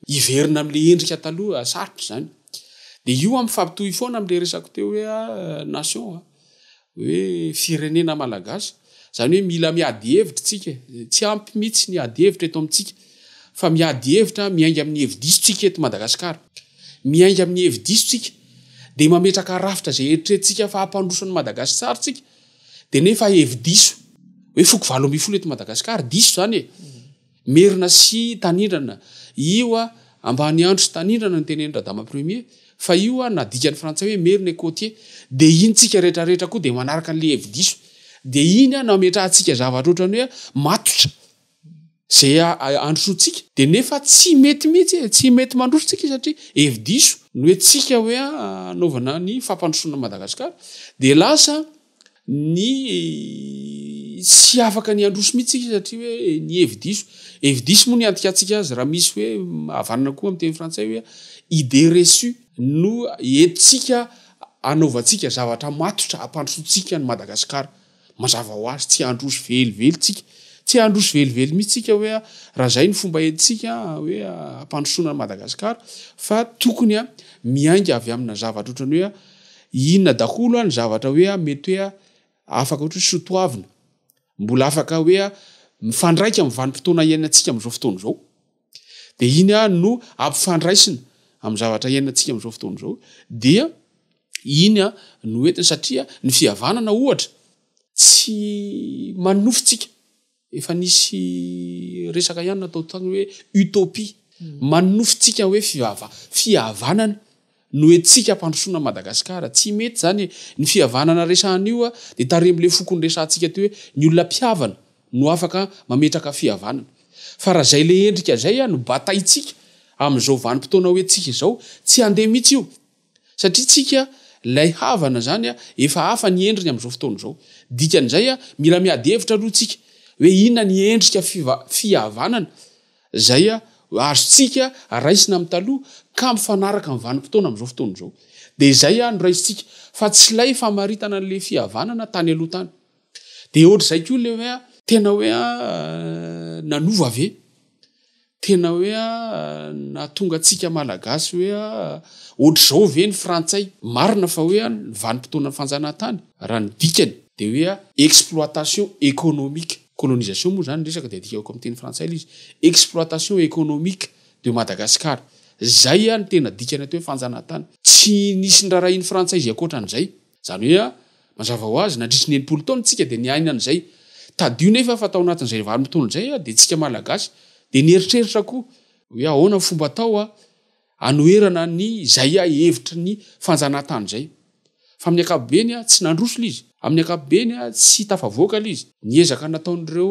[SPEAKER 4] hiverina amle endrika taloha sarotra izany de io a mifampitohy foana amle resako teo hoe a nation a hoe firenena malagasy zany hoe mila miady hevitra tsika tsy ampy mitsy ny ady hevitra eto amintsika fa miady hevitra miainga amin'ny hevi-diso tsika eto madagasikara miainga amin'ny hevi-diso tsika de mametraka rafitra zay eritretintsika fa hampandroso ny madagasisary tsika de nefa hevi-diso hoe foko valo ambin'ny folo eto madagasikara diso zany e Merina sy Tanindrana, io a, Ambaniandro sy Tanindrana no tenenin Radama Premier, fa io a, na dikan'ny frantsay hoe Merina et Côtier, dia iny tsika rehetra rehetra koa dia manaraka an'ilay hevi-diso, dia iny a, no ametrahantsika zavatra ohatran'ny hoe matotra izay handrosoantsika, dia nefa tsy mety mihitsy e, tsy mety mandroso tsika satria hevi-diso, ny hoe tsika hoe a, anaovana ny fampandrosoana an'i Madagasikara, dia lasa. ny tsy afaka ny handroso mihitsy isika satria hoe ny hevi-diso hevi-diso moa ny antikantsika azy raha misy hoe havanana koa amin'ny teny frantsay hoe idée reçue no entintsika anaovantsika zavatra matotra hampandrosoantsika ny Madagasikara mazava ho azy tsy handroso velively tsika tsy handroso velively mihitsy tsika hoe raha izay ny fomba entintsika hoe hampandrosoana ny Madagasikara fa tokony a miainga avy amina zavatra ohatrany hoe Inona daholo ny zavatra hoe mety hoe afaka ohatra hoe soatoavina, mbola afaka hoe mifandraika amin'ny vanim-potoana iainantsika amin'izao fotoana izao. Dia iny no ampifandraisina amin'ny zavatra iainantsika amin'izao fotoana izao dia iny no entiny satria ny fihavanana ohatra tsy manofintsika. Efa nisy resaka ihany natao tany hoe utopie manofintsika hoe fivava fihavanana no etsika ampandrosoana Madagascar tsy mety zany e ny fihavanana resahan'io a de taremle fokony resahantsika teo hoe ny olona mpihavana no afaka mametraka fihavanana fa raha zay le endrika zay a no bataintsika amin'izao vanimpotoana ho etsika izao tsy handeha mitsy io Satria tsika lay havana zany a efa hafa ny endriny amzao fotoana zao. Dikan'izay a mila miady hevitra aloha tsika hoe inona ny endrika fihavanana zay a azontsika raisina am taloha ka mifanaraka am vanimpotoana amzao fotoana zao. De zay a no raisintsika fa tsy lay famaritana anle fihavanana tany aloha tany. De otrzay koa le hoe a tena hoe a nanova ve? Tena hoe nahatonga antsika Malagasy hoe ohatr'izao ve ny Frantsay? Marina fa hoe ny vanim-potoanan'ny fanjanahantany, raha ny dikany, dia hoe exploitation économique, colonisation moa izany ny resaka dia adikako amin'ny teny frantsay ilay izy, exploitation économique de Madagascar. Izay no tena dikany atao hoe fanjanahantany. Tsy nisy nirarahian'ny Frantsay izay ankoatra an'izay. Izany hoe. Mazava ho azy, nandritry ny enimpolo taona tsika dia niaina an'izay. Tadidio nefa fa tao anatin'izay vanim-potoana izay aho, dia tsika Malagasy dia nieritreritra koa hoe ahoana ny fomba atao anoherana ny izay hevitry ny fanjanahantany izay. Fa amin'ny ankapobeny tsy nandroso ilay izy. Amin'ny ankapobeny tsy tafavoaka ilay izy. Ny ezaka nataon'ireo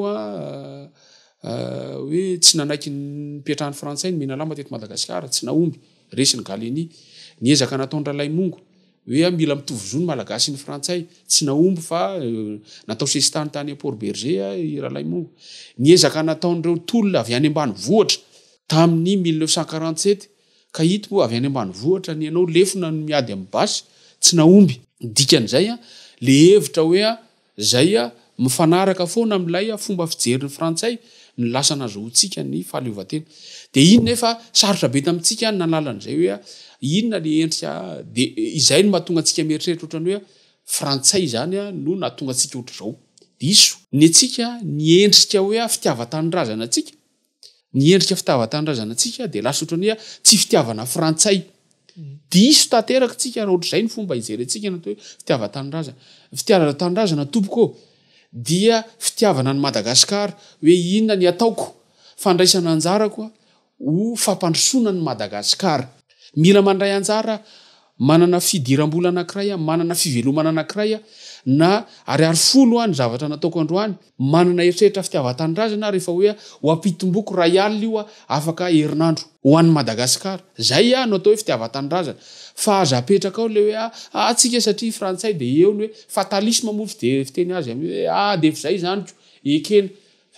[SPEAKER 4] hoe tsy nanaiky ny nipetrahan'ny Frantsay ny Menalamba teto Madagasikara, tsy nahomby, resy ny Gallieni. Ny ezaka nataon'i Ralaimongo, Hoe ah mila mitovy zo ny malagasy sy ny frantsay. Tsy nahomby fa natao sesitany tany à Port Berger ah i Ralaimo. Ny ezaka nataon'ireo tolona avy any ambanivohitra tamin'ny mille neuf cent quarante sept ka ito moa avy any ambanivohitra ny anao lefona no miady amin'ny basy tsy nahomby. Ny dikan'izay ah le hevitra hoe ah. Izay mifanaraka foana amin'ilay fomba fijerin'ny Frantsay ny lasa nazahoantsika ny fahaleovantena. Dia iny nefa sarotra be tamintsika ny nanala an'izay hoe inona ilay endrika. Dia izay no mahatonga antsika mieritreritra ohatran'ny hoe Frantsay izany no nahatonga antsika ohatr'izao. Diso. Ny antsika, ny endrika hoe fitiavan-tanindrazana antsika Ny endrika fitavan-tanindrazana antsika dia lasa ohatran'ny hoe tsy fitiavana frantsay. Diso tanteraka tsika raha ohatr'izay ny fomba ijerentsika ny atao hoe fitiavan-tanindrazana. Ny fitiavan-tanindrazana tompoko ô dia fitiavana an'i Madagasikara hoe inona ny ataoko, fandraisana anjarako ho fampandrosoana an'i Madagasikara. Mila mandray anjara Manana fidiram-bola anankiray aho, manana fivelomana anankiray aho, na ariary folo ho'a ny zavatra nataoko androany, manana eritreritra fitiavan-tanindrazana aho rehefa hoe ho ampitomboiko iray alina io aho afaka herinandro. Ho an'i Madagascar. Izay aho no atao hoe fitiavan-tanindrazana. Fa aza apetraka ao ilay hoe ah, ah tsika satria frantsay dia eo ny hoe, fatalisme moa fiteny azy amin'ny hoe ah dia efa izay izany ko, ekena.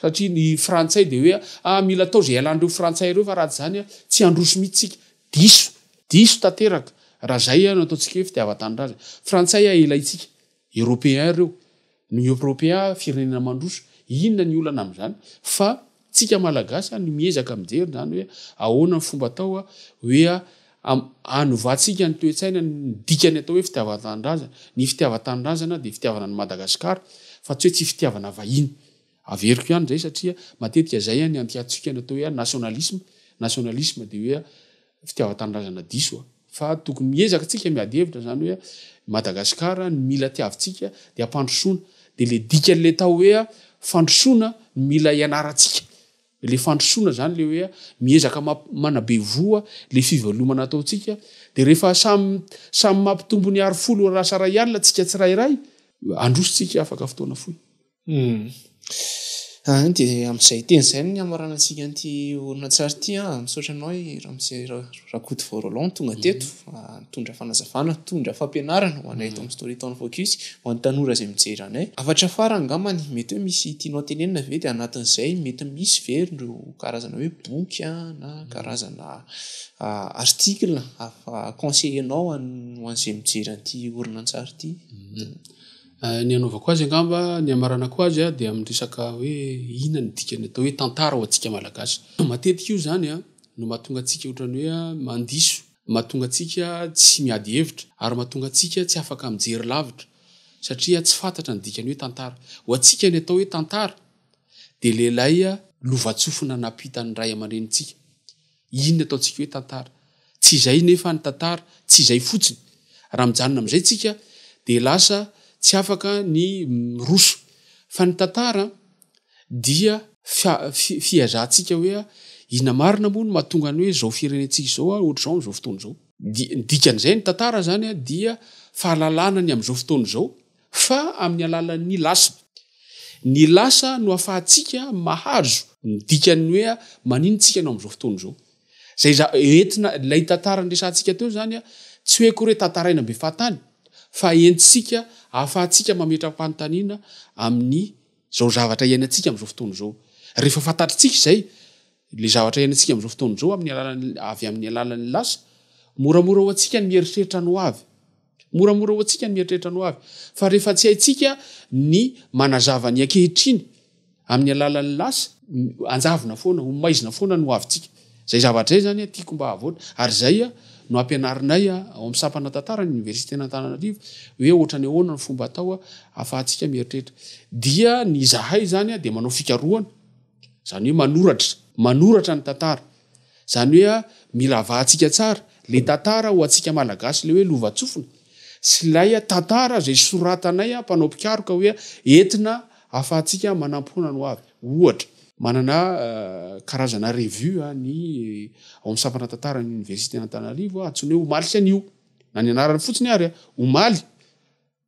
[SPEAKER 4] Satria ny frantsay dia hoe ah mila atao izay ialan'ireo frantsay ireo fa raha tsy izany ah tsy handroso mihitsy tsika. Diso, diso tanteraka raha zay no ataontsika hoe fitiavan-tanindrazana. Frantsay a ilaintsika, européen ireo, ny européen firenena mandroso, inona ny olana amin'izany? Fa tsika malagasy no miezaka mijery izany hoe ahoana ny fomba atao hoe hanovantsika ny toe-tsaina ny dikany atao hoe fitiavan-tanindrazana. Ny fitiavan-tanindrazana dia fitiavana an'i Madagasikara fa tsy hoe tsy fitiavana vahiny. Averiko ihany izay satria matetika izay an ny antiantsika ny atao hoe nationalisme, nationalisme dia hoe fitiavan-tanindrazana diso a! fa tokony miezaka tsika miady hevitra izany hoe Madagascar ny mila tiavintsika dia hampandrosoana dia le dikan'ilay tao hoe fandrosoana no mila ianarantsika le fandrosoana izany le hoe miezaka manabe voa le fivelomana ataontsika dia rehefa samy samy mampitombo ny arofolo raha sarahialina tsika tsirairay androsontsika afaka fotoana fohy.
[SPEAKER 2] Humm dia amin'izay teny izay no nihamarana antsika an'ity horonantsary ity an, misaotra anao i ramose rakotovao roland tonga teto nitondra fanazavana nitondra fampianarana ho anay eto amin'ny story town focus ho an'ny tanora izay mijery anay, hafatra fara angambany mety hoe misy tianao tenenina ve dia anatin'izay mety misy ve ireo karazana hoe boky an na karazana article afa conseiller-nao ho an'izay mijery an'ity horonantsary ity.
[SPEAKER 4] Ny anaovako azy angamba, ny hamaranako azy dia amin'ny resaka hoe inona ny dikany atao hoe tantara ho antsika Malagasy. Matetika io izany no mahatonga antsika ohatran'ny hoe mandiso, mahatonga antsika tsy miady hevitra ary mahatonga antsika tsy afaka mijery lavitra satria tsy fantatra ny dikany hoe tantara. Ho antsika ny atao hoe tantara dia lehilahy lovantsofina nampitan'ny ray aman-drenintsika Inona ataontsika hoe tantara? Tsy izay nefa ny tantara, tsy izay fotsiny. Raha mijanona amin'izay tsika dia lasa tsy afaka ny miroso. Fa ny tantara dia fihazantsika hoe inona marina moa no mahatonga ny hoe izao firenentsika izao ohatr'izao amin'izao fotoana izao. Ny dikan'izay ny tantara izany dia fahalalana ny amin'izao fotoana izao. fa amin'ny alalan'ny lasa. Ny lasa no ahafahantsika mahazo ny dikan'ny hoe manino tsika anao amin'izao fotoana izao. Izay za- entina, ilay tantara niresahantsika teo izany, tsy hoe akory hoe tantaraina mbe fahatany, fa entintsika, ahafahantsika mametra-panontaniana amin'ny izao zavatra iainantsika amin'izao fotoana izao. Rehefa fantatritsika izay, ilay zavatra iainantsika amin'izao fotoana izao amin'ny alalan'ny, avy amin'ny alalan'ny lasa, moramora ho antsika ny mieritreritra ny hoavy. Moramora ho antsika ny mieritreritra ny ho avy, fa rehefa tsy haintsika ny manazava ny ankehitriny amin'ny alalan'ny lasa, hanjavona foana, ho maizina foana ny ho avintsika. Izay zavatra izay izany tiako mba havoatra, ary izay no ampianarinay ao amin'ny sampana tantara ny Oniversiten'Antananarivo, hoe ohatran'ny ahoana ny fomba atao ahafahantsika mieritreritra. Dia ny izahay izany dia manao fikarohana, izany hoe manoratra, manoratra ny tantara. Zany hoe a mila avahantsika tsara le tantara ho antsika malagasy le hoe lovatsofina sy ilay a tantara zay soratanay a mpanao mpikaroka hoe a entina afahantsika manampoana ny hoavy. Ohatra. Manana a karazana revue a ny ao amin'ny sampana tantaran'ny oniversiten' Antananarivo a antsoina hoe omaly sy anio. Na ny anarany fotsiny ary a omaly.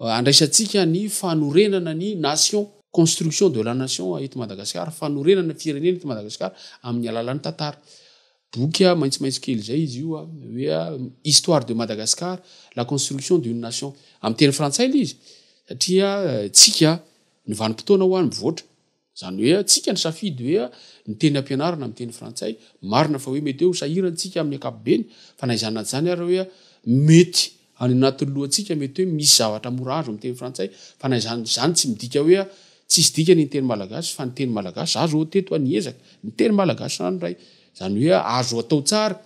[SPEAKER 4] Handraisantsika ny fanorenana ny Nation, construction de la Nation eto Madagasikara, fanorenana firenena eto Madagasikara amin'ny alalan'ny tantara. Boky maitsomaitso kely izay izy io hoe Histoire de Madagascar, la construction d'une nation. Amin'ny teny frantsay ilay izy satria tsika ny vanim-potoana ho any mivoatra. Izany hoe antsika ny safidy hoe ny teny ampianarana amin'ny teny frantsay. Marina fa hoe mety hoe ho sahirantsika amin'ny ankapobeny, fa na izany na izany ary hoe mety any anatin'ny lohantsika mety hoe misy zavatra mora azo amin'ny teny frantsay, fa na izany izany tsy midika hoe tsisy dikany ny teny malagasy fa ny teny malagasy azo ho teto ny ezaka ny teny malagasy ranoray. Izany hoe azo atao tsara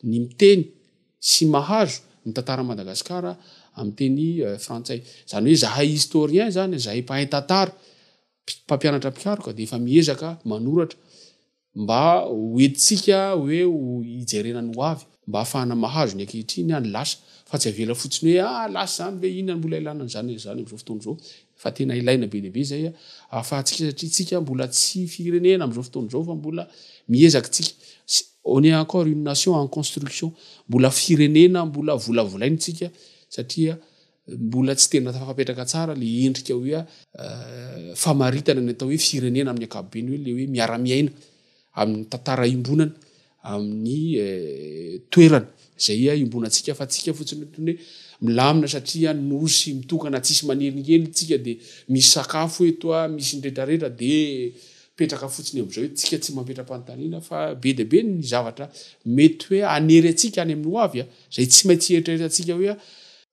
[SPEAKER 4] ny miteny sy mahazo ny tantaran'i Madagasikara amin'ny teny frantsay. Izany hoe izahay historien izany, izahay mpahay tantara, mpampianatra mpikaroka dia efa miezaka manoratra mba hoentintsika hoe hijerena ny ho avy mba hahafahana mahazo ny ankehitriny any lasa fa tsy avela fotsiny hoe ah lasa izany ve inona mbola ilana an'izany izany amin'izao fotoana izao fa tena ilaina be dia be izay ahafahantsika satria tsika mbola tsy firenena amin'izao fotoana izao fa mbola miezaka tsika on est encore une nation en construction mbola firenena mbola volavolaintsika satria Mbola tsy tena tafapetraka tsara le endrika hoe famaritana ny atao hoe firenena amin'ny ankapobeny hoe le hoe miara-miaina amin'ny tantara iombonana amin'ny toerana izay iombonantsika fa tsika fotsiny ohatrany hoe milamina satria nosy mitokana tsisy manelingely tsika dia misy sakafo eto a misy ny retraretra dia petraka fotsiny amin'izao hoe tsika tsy mampetra-panontaniana fa be dia be ny zavatra mety hoe anery antsika any amin'ny hoavy a izay tsy maintsy eritreritra antsika hoe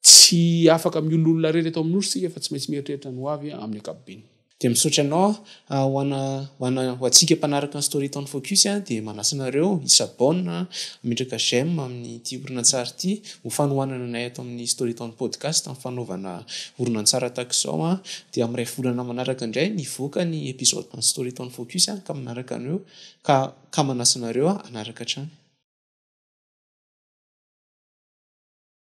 [SPEAKER 4] Tsy afaka miolo olona rery eto amin'ny Nosy isika fa tsy maintsy mieritreritra ny ho avy amin'ny ankapobeny. Dia misaotra anao a,
[SPEAKER 2] ho ana ho ana ho antsika mpanaraka ny Storytown Focus a, dia manasa anareo hi s'abonne a, hametraka j'aime amin'ity horonantsary ity ho fanohanana anay ato amin'ny Storytown Podcast amin'ny fanaovana horonantsary tahaka izao a, dia amin'ny iray volana manaraka indray mivoaka ny episode an'ny Storytown Focus a, ka manaraka anareo ka ka manasa anareo a hanaraka hatrany.